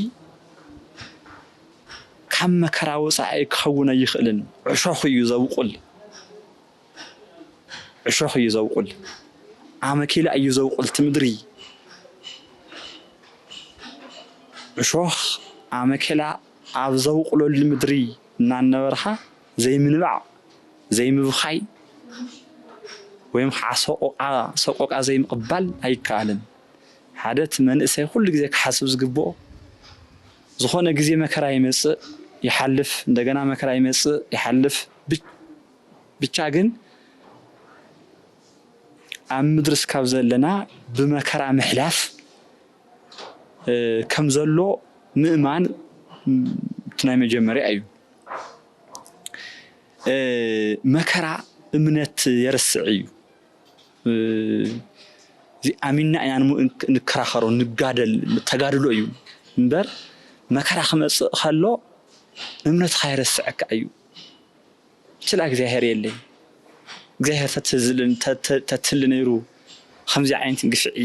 ካብ መከራ ወጻኢ ክኸውን ኣይኽእልን ዕሾኽ እዩ ዘብቁል ዕሾኽ እዩ ዘብቁል ኣመኬላ እዩ ዘብቁል እቲ ምድሪ ዕሾኽ ኣመኬላ ኣብ ዘብቁለሉ ምድሪ እናነበርካ ዘይምንባዕ ዘይምብኻይ ወይም ከዓ ሰቆቃ ሰቆቃ ዘይምቕባል ኣይከኣልን ሓደ እቲ መንእሰይ ኩሉ ግዜ ክሓስብ ዝግብኦ ዝኾነ ግዜ መከራ ይመጽእ ይሓልፍ እንደገና መከራ ይመጽእ ይሓልፍ ብቻ ግን ኣብ ምድሪ እስካብ ዘለና ብመከራ ምሕላፍ ከም ዘሎ ምእማን እቲ ናይ መጀመርያ እዩ። መከራ እምነት የርስዕ እዩ። እዚ ኣሚንና ኢና ንከራኸሮ ንጋደል ተጋድሎ እዩ እምበር መከራ ክመፅእ ከሎ እምነትኻ የረስዐካ እዩ ችላ እግዚኣብሔር የለይ እግዚኣብሔር ተትህሊ ነይሩ ከምዚ ዓይነት ግፍዒ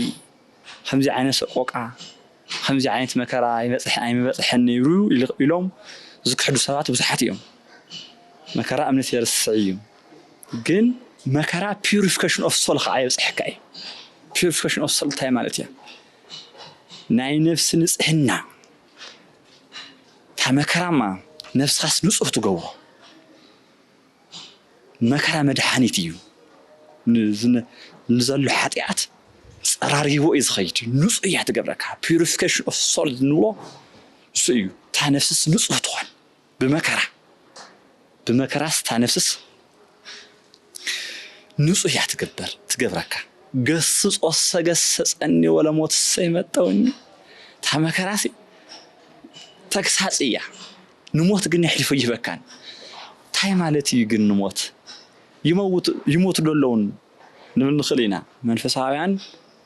ከምዚ ዓይነት ሰቆቃ ከምዚ ዓይነት መከራ ይበጽሕ ኣይምበጽሐን ነይሩ ኢሎም ዝክሕዱ ሰባት ብዙሓት እዮም። መከራ እምነት የርስዕ እዩ። ግን መከራ ፒዩሪፊከሽን ኦፍ ሶል ከኣ የብጽሐካ እዩ። ፒዩሪፊከሽን ኦፍ ሶል እንታይ ማለት እያ? ናይ ነፍሲ ንጽህና እታ መከራማ ነፍስኻስ ንጹህ ትገብሮ። መከራ መድሓኒት እዩ ንዘሎ ሓጢኣት ፀራሪግዎ እዩ ዝኸይድ ንፁህ እያ ትገብረካ ፒሪፊኬሽን ኦፍ ሶል ንብሎ እሱ እዩ እታ ነፍስስ ንፁህ ትኾን ብመከራ ብመከራስ እታ ነፍስስ ንፁህ እያ ትገበር ትገብረካ ገስጾ ሰገሰጸኒ ወለሞት ሰይመጠውኒ እታ መከራሲ ተግሳፅ እያ ንሞት ግን የሕሊፉ ኣይህበካን። ታይ ማለት እዩ ግን ንሞት? ይመውቱ ይሞቱ ዶ ኣለውን ንብል ንኽእል ኢና። መንፈሳውያን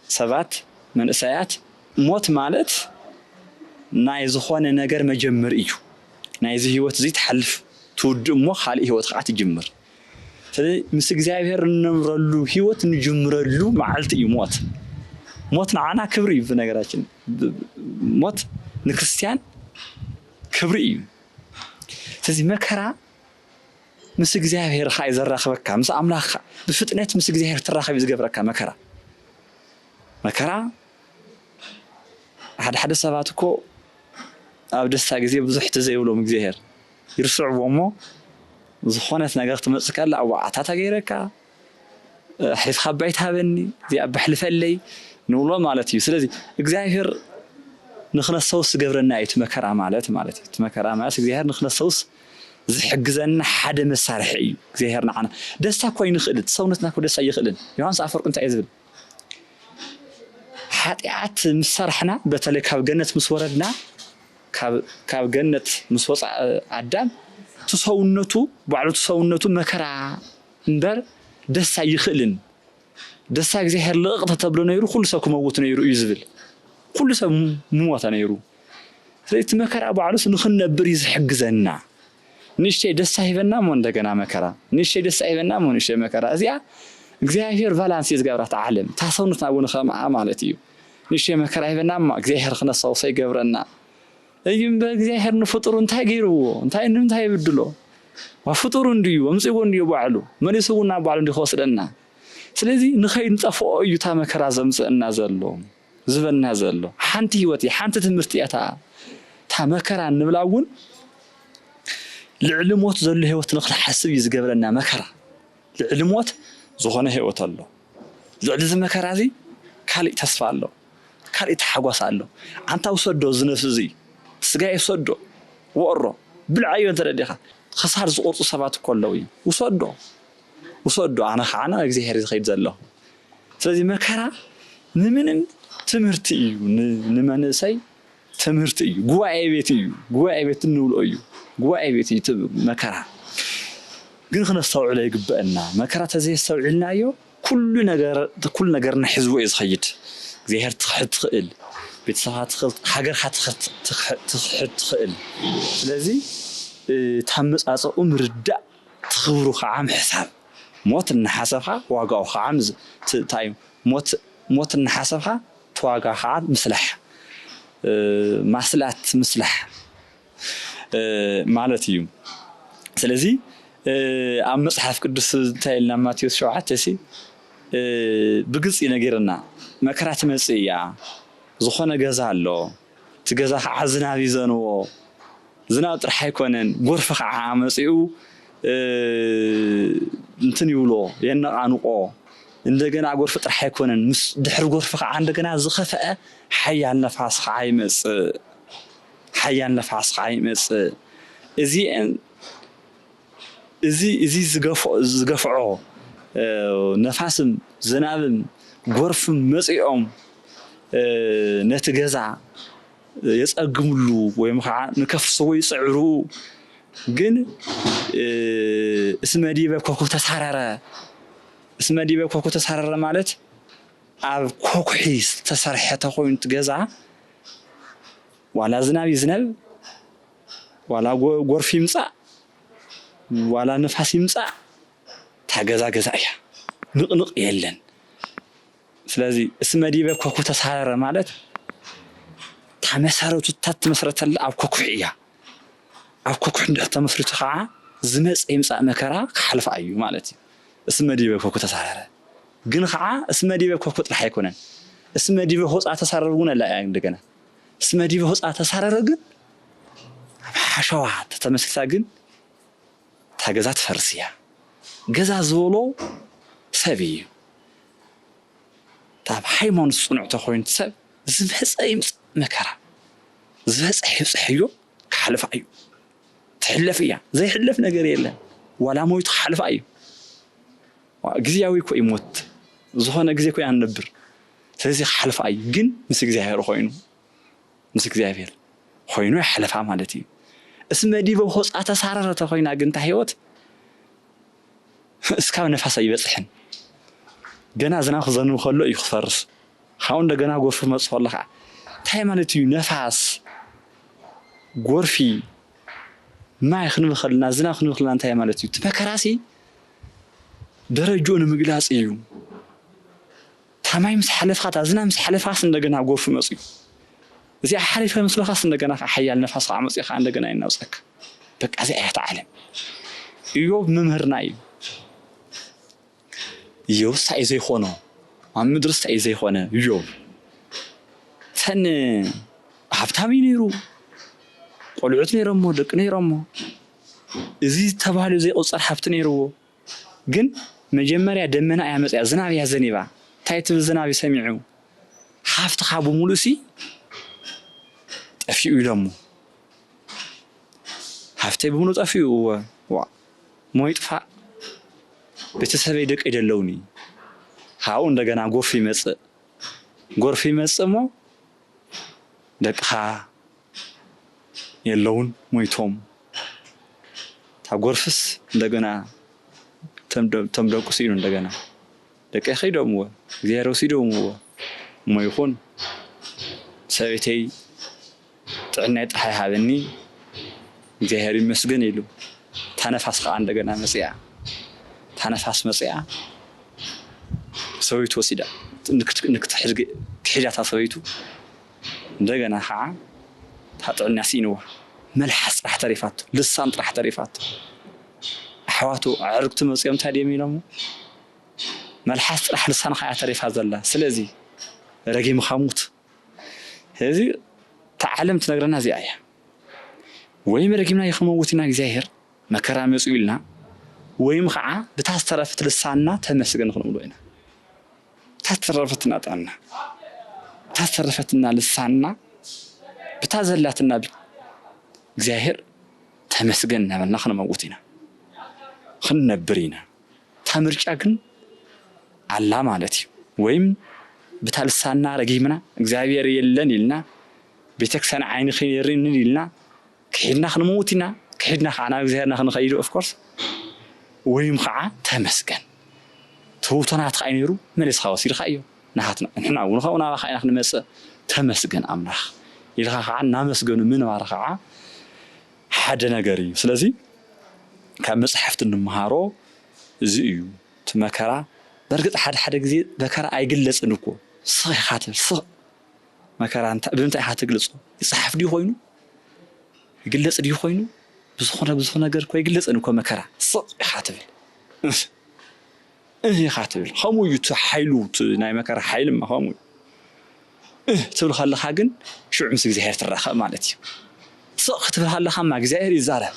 ሰባት፣ መንእሰያት፣ ሞት ማለት ናይ ዝኾነ ነገር መጀመሪ እዩ። ናይዚ ህይወት እዚ ትሓልፍ ትውድእ እሞ ካልእ ህይወት ኸኣ ትጅምር። ስለዚ ምስ እግዚኣብሔር እንነብረሉ ህይወት እንጅምረሉ መዓልቲ እዩ ሞት። ሞት ንዓና ክብሪ እዩ ብነገራችን ብ ሞት ንክርስትያን ክብሪ እዩ ስለዚ መከራ ምስ እግዚኣብሄር ኸዓ እዩ ዘራኽበካ ምስ ኣምላኽ ብፍጥነት ምስ እግዚኣብሄር ትራኸብ እዩ ዝገብረካ መከራ መከራ ሓደ ሓደ ሰባት እኮ ኣብ ደስታ ግዜ ብዙሕ ተዘይብሎም እግዚኣብሔር ይርስዕዎ እሞ ዝኾነት ነገር ክትመፅእ ከላ እዋዓታታ ገይረካ ኣሕሊፍካ እባ ኣይትሃበኒ እዚኣ እባ ኣሕልፈለይ ንብሎ ማለት እዩ ስለዚ እግዚኣብሔር ንክነስተውስ ዝገብረና እዩ እቲ መከራ ማለት ማለት እዩ እቲ መከራ ማለት እግዚኣብሔር ንክነስተውስ ዝሕግዘና ሓደ መሳርሒ እዩ እግዚኣብሔር ንዓና ደስታ እኮ ኣይንኽእል እቲ ሰውነትና እኮ ደስታ ኣይኽእልን ዮሃንስ ኣፈወርቂ እንታይ እዩ ዝብል ሓጢኣት ምስ ሰራሕና በተለይ ካብ ገነት ምስ ወረድና ካብ ገነት ምስ ወፃእ ኣዳም እቲ ሰውነቱ ባዕሉ እቲ ሰውነቱ መከራ እምበር ደስ ኣይኽእልን ደስታ እግዚኣብሔር ልቕቕ ተተብሎ ነይሩ ኩሉ ሰብ ክመውት ነይሩ እዩ ዝብል ኩሉ ሰብ ምሞተ ነይሩ ስለዚ እቲ መከራ ባዕሉስ ንኽንነብር እዩ ዝሕግዘና ንእሽተይ ደስታ ሂበና እሞ እንደገና መከራ ንእሽተይ ደስታ ሂበና እሞ ንእሽተይ መከራ እዚኣ እግዚኣብሔር ቫላንስ እዩ ዝገብራት ዓለም እታ ሰውነትና እውን ኸምኣ ማለት እዩ ንእሽተይ መከራ ሂበና እማ እግዚኣብሔር ክነስታውሶ ይገብረና እዩ እምበር እግዚኣብሔር ንፍጡሩ እንታይ ገይርዎ እንታይ ንምንታይ ይብድሎ ዋ ፍጡሩ እንድዩ ኣምፅዎ እንድዮ ባዕሉ መሊሱ እውን ናብ ባዕሉ እንዲ ክወስደና ስለዚ ንኸይንጠፍኦ እዩ እታ መከራ ዘምፅእና ዘሎ ዝበና ዘሎ ሓንቲ ህይወት እያ ሓንቲ ትምህርቲ እያ እታ እታ መከራ እንብላ እውን ልዕሊ ሞት ዘሎ ህይወት ንክንሓስብ እዩ ዝገብረና መከራ ልዕሊ ሞት ዝኾነ ህይወት ኣሎ። ልዕሊ እዚ መከራ እዚ ካልእ ተስፋ ኣሎ፣ ካልእ ታሕጓስ ኣሎ። ኣንታ ውሰዶ እዚ ነፍሲ እዚ፣ ስጋይ ውሰዶ፣ ወሮ ብልዓዮ እንተ ደሊኻ፣ ክሳድ ዝቑርጹ ሰባት እኮ ኣለዉ እዮም፣ ውሰዶ፣ ውሰዶ ኣነ ኸኣ ናብ እግዚኣብሔር እየ ዝኸይድ ዘለኹ። ስለዚ መከራ ንምንም ትምህርቲ እዩ ንመንእሰይ። ትምህርቲ እዩ ጉባኤ ቤት እዩ ጉባኤ ቤት እንብሎ እዩ ጉባኤ ቤት እዩ መከራ ግን ክነስተውዕሎ ይግበአና መከራ ተዘየስተውዒልናዮ ኩሉ ነገር ኩሉ ነገርና ሕዝቦ እዩ ዝኸይድ እግዚኣብሔር ትኽሕድ ትኽእል ቤተሰብካ ትኽእል ሃገርካ ትኽሕድ ትኽእል ስለዚ ታመጻጸኡ ምርዳእ ትኽብሩ ከዓ ምሕሳብ ሞት እናሓሰብካ ዋጋኡ ከዓ እንታይ እዩ ሞት ሞት እናሓሰብካ ተዋጋ ከኣ ምስላሕ ማስላት ምስላሕ ማለት እዩ ስለዚ ኣብ መጽሓፍ ቅዱስ እንታይ ኢልና ማቴዎስ ሸውዓተ ሲ ብግልጺ ነጊርና መከራ ትመጽእ እያ ዝኾነ ገዛ ኣሎ እቲ ገዛ ኸዓ ዝናብ ይዘንቦ። ዝናብ ጥራሕ ኣይኮነን ጎርፊ ኸዓ መፂኡ እንትን ይብሎ የነቓንቖ። እንደገና ጎርፊ ጥራሕ ኣይኮነን ምስ ድሕሪ ጎርፊ ኸዓ እንደገና ዝኸፈኣ ሓያል ነፋስ ኸዓ ይመፅእ። ሓያል ነፋስ ኸዓ ይመፅእ። እዚኤን እዚ ዝገፍዖ ነፋስን ዝናብን ጎርፍን መጺኦም ነቲ ገዛ የጸግምሉ ወይም ኸዓ ንከፍስዎ ይጽዕሩ ግን እስመ ዲበ ኮኩ ተሳረረ እስመ ዲበ ኮኩ ተሳረረ ማለት ኣብ ኮኩሒ ዝተሰርሐ ተኾይኑ እቲ ገዛ ዋላ ዝናብ ይዝነብ ዋላ ጎርፊ ይምጻእ ዋላ ንፋስ ይምጻእ እታ ገዛ ገዛ እያ ንቕንቕ የለን። ስለዚ እስመ ዲበ ኮኩ ተሳረረ ማለት እታ መሰረቱ እታ እትመስረተላ ኣብ ኮኩሕ እያ። ኣብ ኮኩሕ እንድሕር ተመስሪቱ ከዓ ዝመጽእ ይምጻእ መከራ ክሓልፋ እዩ ማለት እዩ። እስመ ዲበ ኮኩ ተሳረረ ግን ከዓ እስመ ዲበ ኮኩ ጥራሕ ኣይኮነን እስመ ዲበ ሆጻ ተሳረር እውን ኣላ እያ እንደገና። እስመ ዲበ ሆጽኣ ተሳረረ ግን ኣብ ሓሸዋ ተተመስሪታ ግን እታ ገዛ ትፈርስ እያ። ገዛ ዝበሎ ሰብ እዩ። እታ ኣብ ሃይማኖት ጽኑዕ ተኮይኑ ሰብ ዝመጸ ይምጻእ መከራ ዝበጽሐ ይብጽሐዮ ክሓልፋ እዩ። ትሕለፍ እያ ዘይሕለፍ ነገር የለን ዋላ ሞይቱ ክሓልፋ እዩ። ግዝያዊ እኮ እዩ ሞት ዝኾነ ግዜ እኮ ኢና ንነብር ስለዚ ክሓልፍ ኣዩ ግን ምስ እግዚኣብሔር ኾይኑ ምስ እግዚኣብሔር ኾይኑ ይሓልፋ ማለት እዩ እስመ ዲበ ሆፃ ተሳረረ ተኾይና ግን እታ ህይወት እስካብ ነፋስ ኣይበፅሕን ገና ዝናብ ክዘንብ ከሎ እዩ ክፈርስ ካብኡ እንደገና ጎርፊ ክመፅእ ከሎ ከዓ እንታይ ማለት እዩ ነፋስ ጎርፊ ማይ ክንበኸልና ዝናብ ክንበኸልና እንታይ ማለት እዩ እቲ መከራሲ ደረጅኡ ንምግላጽ ኢዩ። እታ ማይ ምስ ሓለፍካ እታ ዝናብ ምስ ሓለፍካስ እንደገና ጎርፊ መጽዩ እዚኣ ሓሊፈ ምስ በልካስ እንደገና ከዓ ሓያል ነፋስ ከዓ መጽዩ ከዓ እንደገና የናውጸካ በቃ እዚኣ እያ እታ ዓለም እዮብ መምህርና እዩ እዮብ እንታይ እዩ ዘይኮኖ ኣብ ምድሪ እንታይ እዩ ዘይኮነ እዮብ ተን ሃብታም እዩ ነይሩ ቆልዑት ነይሮሞ ደቂ ነይሮሞ እዚ ተባህሉ ዘይቁጸር ሃብቲ ነይርዎ ግን መጀመርያ ደመና እያ መጽያ ዝናብ እያ ዘኒባ ታይ ትብል ዝናብ እዩ ሰሚዑ ሃፍትካ ብሙሉእሲ ጠፊኡ ኢሎሞ ሃፍተይ ብሙሉእ ጠፊኡ እወ ዋእ እሞ ይጥፋእ ቤተሰበይ ደቀይ ደለውኒ ካብኡ እንደገና ጎርፊ ይመጽእ ጎርፊ ይመጽእ እሞ ደቅኻ የለዉን ሞይቶም እታ ጎርፍስ እንደገና እቶም ደቁ ስኢኑ እንደገና ደቀይ ከይዶምዎ እግዚኣብሔር ወሲዶምዎ እሞ ይኹን ሰበይተይ ጥዕናይ ጥራሕ ይሃበኒ እግዚኣብሔር ይመስገን ኢሉ እታ ነፋስ ከኣ እንደገና መጺኣ እታ ነፋስ መጺኣ ሰበይቱ ወሲዳ ንክትሕዛታ ሰበይቱ እንደገና ከኣ እታ ጥዕንያ ስኢንዋ መልሓስ ጥራሕ ተሪፋቶ ልሳን ጥራሕ ተሪፋቶ ኣሕዋቱ ኣዕርክቱ መጺኦም እንታይ ድዮም ኢሎሞ መልሓስ ጥራሕ ልሳንካ እያ ተሪፋ ዘላ ስለዚ ረጊምካ ሙት ስለዚ እታ ዓለም ትነግረና እዚኣ እያ ወይም ረጊምናዮ ክንመውት ኢና እግዚኣብሔር መከራ መጽኡ ኢልና ወይም ከዓ ብታ ዝተረፈት ልሳንና ተመስገን ክንብሎ ኢና ብታ ዝተረፈትና ጥዕና ብታ ዝተረፈትና ልሳንና ብታ ዘላትና እግዚኣብሔር ተመስገን እናበልና ክንመውት ኢና ክንነብር ኢና እታ ምርጫ ግን ኣላ ማለት እዩ። ወይም ብታ ልሳንና ረጊምና እግዚኣብሔር የለን ኢልና ቤተክርስቲያን ዓይንኺ የሪእንን ኢልና ክሒድና ክንመውት ኢና ክሒድና ከዓ ናብ እግዚኣብሔርና ክንኸይድ ኦፍ ኮርስ ወይም ከዓ ተመስገን ትውቶ ናትካ እዩ ነይሩ መሊስካ ወሲድካዮ ናሃትና ንሕና እውን ከምኡ ናባካ ኢና ክንመፅእ ተመስገን ኣምላኽ ኢልካ ከዓ እናመስገኑ ምንባር ከዓ ሓደ ነገር እዩ ስለዚ ካብ መጻሕፍቲ እንመሃሮ እዚ እዩ እቲ መከራ በርግጥ ሓደ ሓደ ግዜ መከራ ኣይግለጽን እኮ ስቕ ኢኻ ትብል ስቕ መከራ እንታይ ብምንታይ ኢኻ ትግልጾ ይጽሓፍ ድዩ ኮይኑ ይግለጽ ድዩ ኮይኑ ብዝኾነ ብዝኾነ ነገር እኮ ኣይግለጽን እኮ መከራ ስቕ ኢኻ ትብል እህ ኢኻ ትብል ከምኡ እዩ እቲ ሓይሉ እቲ ናይ መከራ ሓይሊ እማ ከምኡ እዩ እህ ትብል ከለኻ ግን ሽዑ ምስ እግዚኣብሔር ትራኸብ ማለት እዩ ስቕ ክትብል ከለኻ እማ እግዚኣብሔር ይዛረብ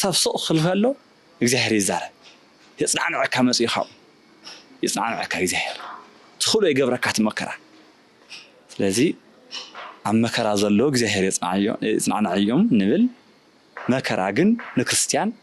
ሰብ ስቕ ክብል ከሎ እግዚኣብሔር ይዛረብ የጽናዕንዐካ መጽኡ ካብኡ የጽናዕንዐካ እግዚኣብሔር ትኽእሎ ይገብረካ እቲ መከራ ስለዚ ኣብ መከራ ዘሎ እግዚኣብሔር የጽናዕንዐዮም ንብል መከራ ግን ንክርስትያን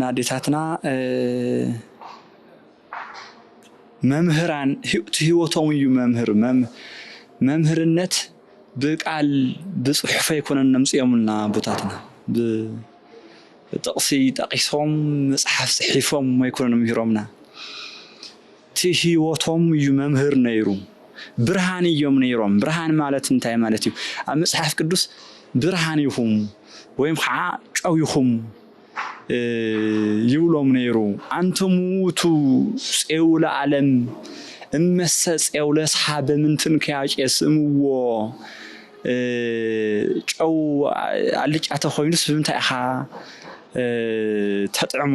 ናዴታትና መምህራን እቲ ህይወቶም እዩ መምህር መምህርነት ብቃል ብፅሑፍ ኣይኮነን ነምፅኦምልና ኣቦታትና ብጥቕሲ ጠቒሶም መፅሓፍ ፅሒፎም ኣይኮነን ምሂሮምና እቲ ህይወቶም እዩ መምህር ነይሩ። ብርሃን እዮም ነይሮም። ብርሃን ማለት እንታይ ማለት እዩ? ኣብ መጽሓፍ ቅዱስ ብርሃን ኢኹም ወይም ኸዓ ጨው ኢኹም ይብሎም ነይሩ። ኣንቱም ውእቱ ፄው ለዓለም እመሰ ፄው ለስሓ በምንትን ከያጬ ስእምዎ ጨው ኣልጫ ተኾይኑስ ብምንታይ ኢኻ ተጥዕሞ?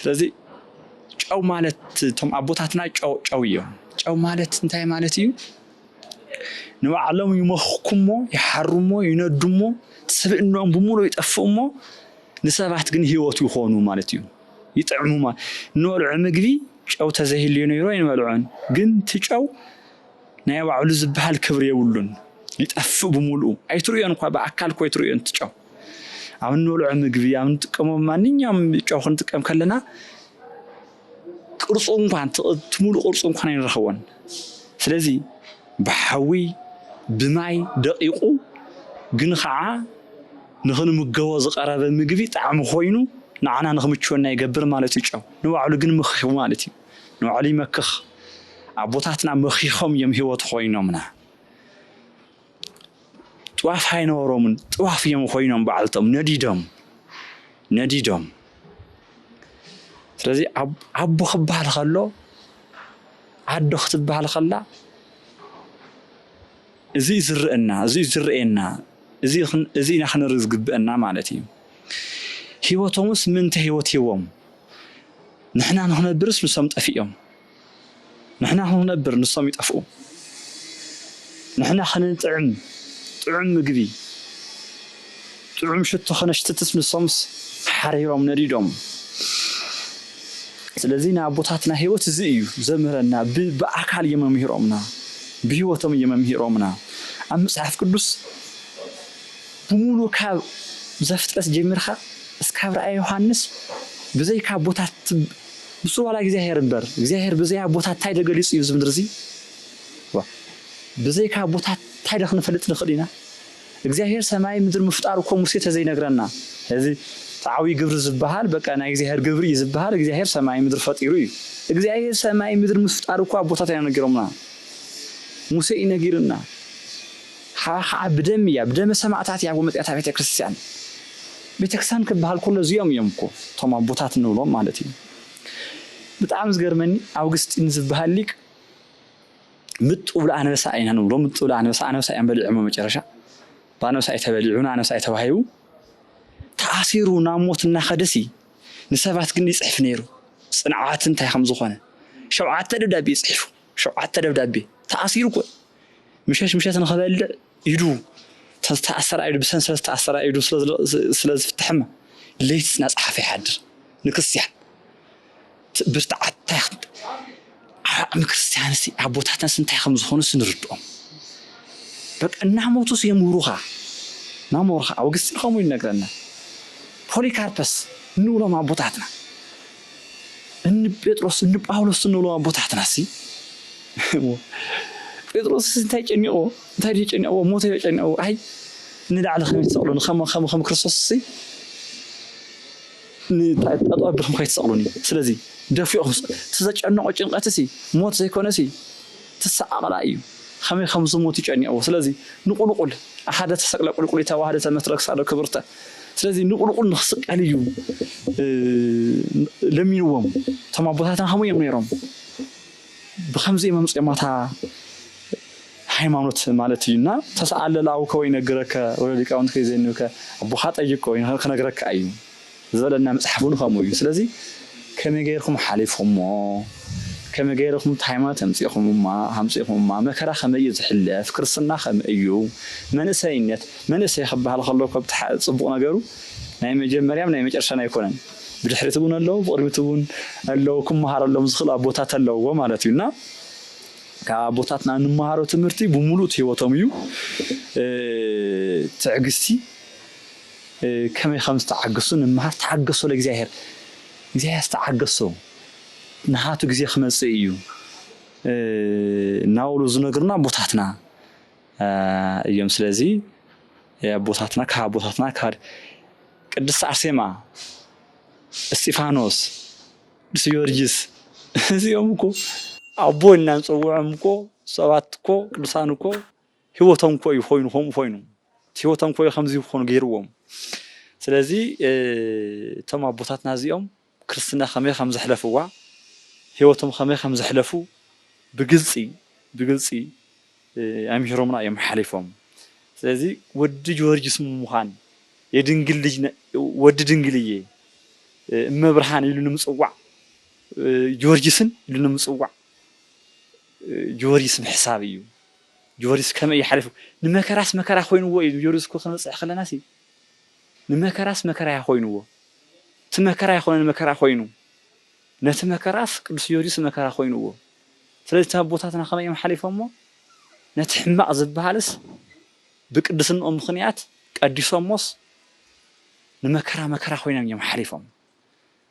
ስለዚ ጨው ማለት እቶም ኣቦታትና ጨው ጨው እዮም። ጨው ማለት እንታይ ማለት እዩ? ንባዕሎም ይመኽኩሞ ይሓሩሞ ይነዱሞ ስብእኖም ብምሉእ ይጠፍእሞ ንሰባት ግን ህይወት ይኾኑ ማለት እዩ ይጥዕሙ እንበልዖ ምግቢ ጨው ተዘይህልዮ ነይሮ ኣይንበልዖን ግን እቲ ጨው ናይ ባዕሉ ዝበሃል ክብሪ የብሉን ይጠፍእ ብምሉኡ ኣይትርእዮን እኳ ብኣካል እኮ ኣይትርእዮን እቲ ጨው ኣብ እንበልዖ ምግቢ ኣብ እንጥቀሞ ማንኛውም ጨው ክንጥቀም ከለና ቅርፁ እንኳን እቲ ሙሉእ ቅርፁ እንኳን ኣይንረኽቦን። ስለዚ ብሓዊ ብማይ ደቂቑ ግን ከዓ ንክንምገቦ ዝቐረበ ምግቢ ጣዕሚ ኮይኑ ንዓና ንክምችወና ይገብር ማለት እዩ። ጨው ንባዕሉ ግን መኺኹ ማለት እዩ። ንባዕሉ ይመክኽ። ኣቦታትና መኺኾም እዮም ህይወት ኮይኖምና። ጥዋፍ ኣይነበሮምን ጥዋፍ እዮም ኮይኖም ባዕልቶም ነዲዶም ነዲዶም ስለዚ ኣቦ ክበሃል ከሎ ኣዶ ክትበሃል ከላ እዚ እዩ ዝርአና እዚ እዩ ዝርአየና እዚ እዚ ኢና ክንርኢ ዝግብአና ማለት እዩ ህይወቶምስ ምንተ ህይወት ሂቦም ንሕና ንኽነብርስ ንሶም ጠፊኦም ንሕና ክንነብር ንሶም ይጠፍኡ። ንሕና ክንጥዕም ጥዑም ምግቢ ጥዑም ሽቶ ከነሽትትስ ንሶምስ ሓሪሮም ነዲዶም። ስለዚ ናይ ኣቦታትና ህይወት እዚ እዩ ዘምህረና ብ ብኣካል እዮም መሚህሮምና ብህይወቶም እዮም መሚህሮምና ኣብ መጽሓፍ ቅዱስ ብሙሉ ካብ ዘፍጥረት ጀሚርካ እስካብ ራእየ ዮሃንስ ብዘይካ ኣቦታት ንሱ ዋላ እግዚኣብሄር እምበር እግዚኣብሄር ብዘይ ኣቦታት ታይ ደገሊፁ እዩ እዚ ምድሪ እዙይ ዋእ ብዘይካ ኣቦታት ታይ ደክንፈልጥ ንክእል ኢና እግዚኣብሄር ሰማይን ምድርን ምፍጣሩ እኮ ሙሴ ተዘይነግረና እዚ ተዓብይ ግብሪ ዝበሃል በቃ ናይ እግዚኣብሄር ግብሪ እዩ ዝበሃል እግዚኣብሄር ሰማይን ምድሪ ፈጢሩ እዩ እግዚኣብሄር ሰማይን ምድርን ምፍጣሩ እኮ ኣቦታት ኣይነገሮምና ሙሴ እዩ ነጊርና ሓራ ኸዓ ብደም እያ ብደመ ሰማእታት እያ ጎመጢያታ ቤተ ክርስትያን ቤተ ክርስትያን ክበሃል ከሎ እዚኦም እዮም እኮ እቶም ኣቦታት እንብሎም ማለት እዩ ብጣዕሚ ዝገርመኒ ኣውግስጢን ዝበሃል ሊቅ ምጥ ብሉ ኣንበሳ ኢና ንብሎ ምጥ ብሉ ኣንበሳ ኣንበሳ እዮም በሊዖሞ መጨረሻ ብኣንበሳ እዩ ተበሊዑ ንኣንበሳ እዩ ተባሂቡ ተኣሲሩ ናብ ሞት እናኸደሲ ንሰባት ግን ይፅሕፍ ነይሩ ፅንዓት እንታይ ከም ዝኾነ ሸውዓተ ደብዳቤ እዩ ፅሒፉ ሸውዓተ ደብዳቤ ተኣሲሩ እኮ ምሸት ምሸት ንክበልዕ ኢዱ ተዝተኣሰራ ኢዱ ብሰንሰለት ዝተኣሰራ ኢዱ ስለ ዝፍትሐማ ለይቲ ናፅሓፈ ይሓድር ንክርስቲያን ብርትዓት እንታይ ዓቕሚ ክርስቲያንሲ ኣቦታትናስ እንታይ ከም ዝኾኑስ ንርድኦም በቃ እናሞቱስ የምህሩኻ ናሞርኻ ኣውግስጢን ከምኡ ይነግረና ፖሊካርፐስ ንብሎም ኣቦታትና እኒ ጴጥሮስ እኒ ጳውሎስ እንብሎም ኣቦታትናሲ እሞ ጴጥሮስስ እንታይ ጨኒቕዎ እንታይ ድዩ ጨኒቕዎ ሞተ ዮ ጨኒቕዎ ኣይ ንላዕሊ ከመይ ትሰቕሉኒ ከም ከም ከም ክርስቶስሲ ንጠጠው ኣቢልኩም ከይትሰቕሉኒ ስለዚ ደፊእኹም እቲ ዘጨነቖ ጭንቐትሲ ሞት ዘይኮነሲ ትሰዓቕላ እዩ ኸመይ ኸም ዝሞቱ ጨኒቕዎ ስለዚ ንቑልቑል ኣሓደ ተሰቅለ ቁልቁሊታ ዋህደ ተመትረ ክሳዶ ክብርተ ስለዚ ንቑልቑል ንኽስቀል እዩ ለሚንዎም እቶም ኣቦታትና ኸምኡ እዮም ነይሮም ብኸምዚ እዮም ኣምፂኦማ እታ ሃይማኖት ማለት እዩ እና ተሰኣለ ለኣቡከ ወይነግረከ ወለሊቃውንትከ ይዜንብከ ኣቦኻ ጠይቆ ክነግረካ እዩ ዝበለና መጽሓፍ ውን ከምኡ እዩ ስለዚ ከመይ ገይርኩም ሓሊፍኩሞ ከመይ ገይርኩም እታ ሃይማኖት ኣምጺእኩምማ ኣምጺእኩምማ መከራ ከመይ እዩ ዝሕለፍ ክርስትና ከመይ እዩ መንእሰይነት መንእሰይ ክበሃል ከሎ እኮ ብታ ጽቡቕ ነገሩ ናይ መጀመርያን ናይ መጨረሻን ኣይኮነን ብድሕሪት እውን ኣለዉ ብቕድሚት እውን ኣለዉ ክመሃረሎም ዝኽእል ኣቦታት ኣለውዎ ማለት እዩ እና ካብ ኣቦታትና እንመሃሮ ትምህርቲ ብምሉእ ህይወቶም እዩ ትዕግስቲ ከመይ ከም ዝተዓገሱ ንመሃር ተዓገሶ ለእግዚኣብሔር እግዚኣብሔር ዝተዓገሶ ንሃቱ ግዜ ክመጽእ እዩ እናበሉ ዝነግሩና ኣቦታትና እዮም ስለዚ ኣቦታትና ካብ ኣቦታትና ካብ ቅድስት አርሴማ፣ እስጢፋኖስ፣ ቅዱስ ጊዮርጊስ እዚኦም እኮ ኣቦ እናንፀውዖም እኮ ሰባት እኮ ቅዱሳን እኮ ሂወቶም እኮ እዩ ኮይኑ ከምኡ ኮይኑ እቲ ሂወቶም እኮ እዩ ከምዚ ክኮኑ ገይርዎም ስለዚ እቶም ኣቦታትና እዚኦም ክርስትና ከመይ ከም ዘሕለፍዋ ሂወቶም ከመይ ከም ዘሕለፉ ብግልጺ ብግልጺ ኣምሂሮምና እዮም ሓሊፎም ስለዚ ወዲ ጆርጅስ ምሙኻን የድንግል ልጅ ወዲ ድንግል እየ እመ ብርሃን ኢሉ ንምጽዋዕ ጆርጅስን ኢሉ ንምጽዋዕ ጆርጅስ ምሕሳብ እዩ ጆርጅስ ከመይ እዩ ሓሊፉ ንመከራስ መከራ ኮይንዎ እዩ ንጆርጅስ እኮ ክንበጽሕ ከለናሲ ንመከራስ መከራ እያ ኮይንዎ እቲ መከራ ኣይኮነን መከራ ኮይኑ ነቲ መከራስ ቅዱስ ጆርጅስ መከራ ኮይንዎ ስለዚ እቶም ኣቦታትና ከመይ እዮም ሓሊፎሞ ነቲ ሕማቅ ዝብሃልስ ብቅድስንኦም ምኽንያት ቀዲሶሞስ ንመከራ መከራ ኮይኖም እዮም ሓሊፎም።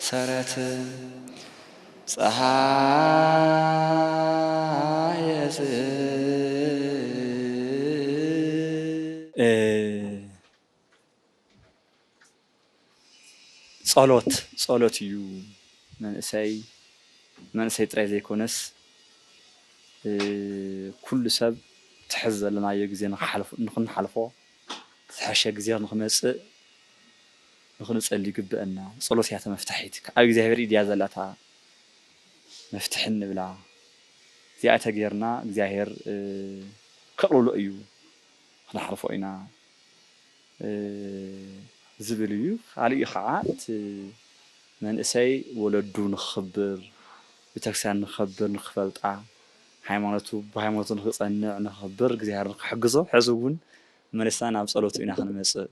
ሰረት ጸሃየስእም። ጸሎት ጸሎት እዩ መንእሰይ መንእሰይ ጥራይ ዘይኮነስ ኩሉ ሰብ እቲ ሕዚ ዘለናዮ ግዜ ንክንሓልፎ ዝሐሸ ግዜ ንክመጽእ ንክንጸሊ ይግበእና ጸሎት እያ ተመፍታሒት ክኣ ኣብ እግዚኣብሔር ኢድ እያ ዘላ እታ መፍትሒ እንብላ እዚኣ ተገይርና እግዚኣብሔር ከቅልሎ እዩ ክንሓልፎ ኢና ዝብል እዩ ካልእ ክኣ እቲ መንእሰይ ወለዱ ንክክብር ቤተክርስቲያን ንክከብር ንክፈልጣ ሃይማኖቱ ብሃይማኖቱ ንክጸንዕ ንክክብር እግዚኣብሔር ንክሕግዞ ሐዚ እውን መሊስና ናብ ጸሎቱ ኢና ክንመጽእ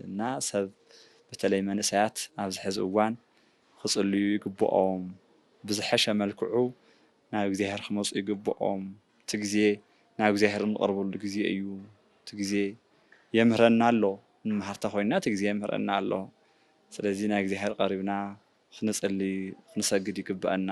እና ሰብ በተለይ መንእሰያት ኣብዚ ሐዚ እዋን ኽፅልዩ ይግብኦም ብዝሐሸ መልክዑ ናብ እግዚኣብሔር ኽመፁ ይግብኦም እቲ ግዜ ናብ እግዚኣብሔር እንቐርበሉ ግዜ እዩ እቲ ግዜ የምህረና ኣሎ ንመሃር ተኾይንና እቲ ግዜ የምህረና ኣሎ ስለዚ ናብ እግዚኣብሔር ቐሪብና ኽንፅሊ ኽንሰግድ ይግበእና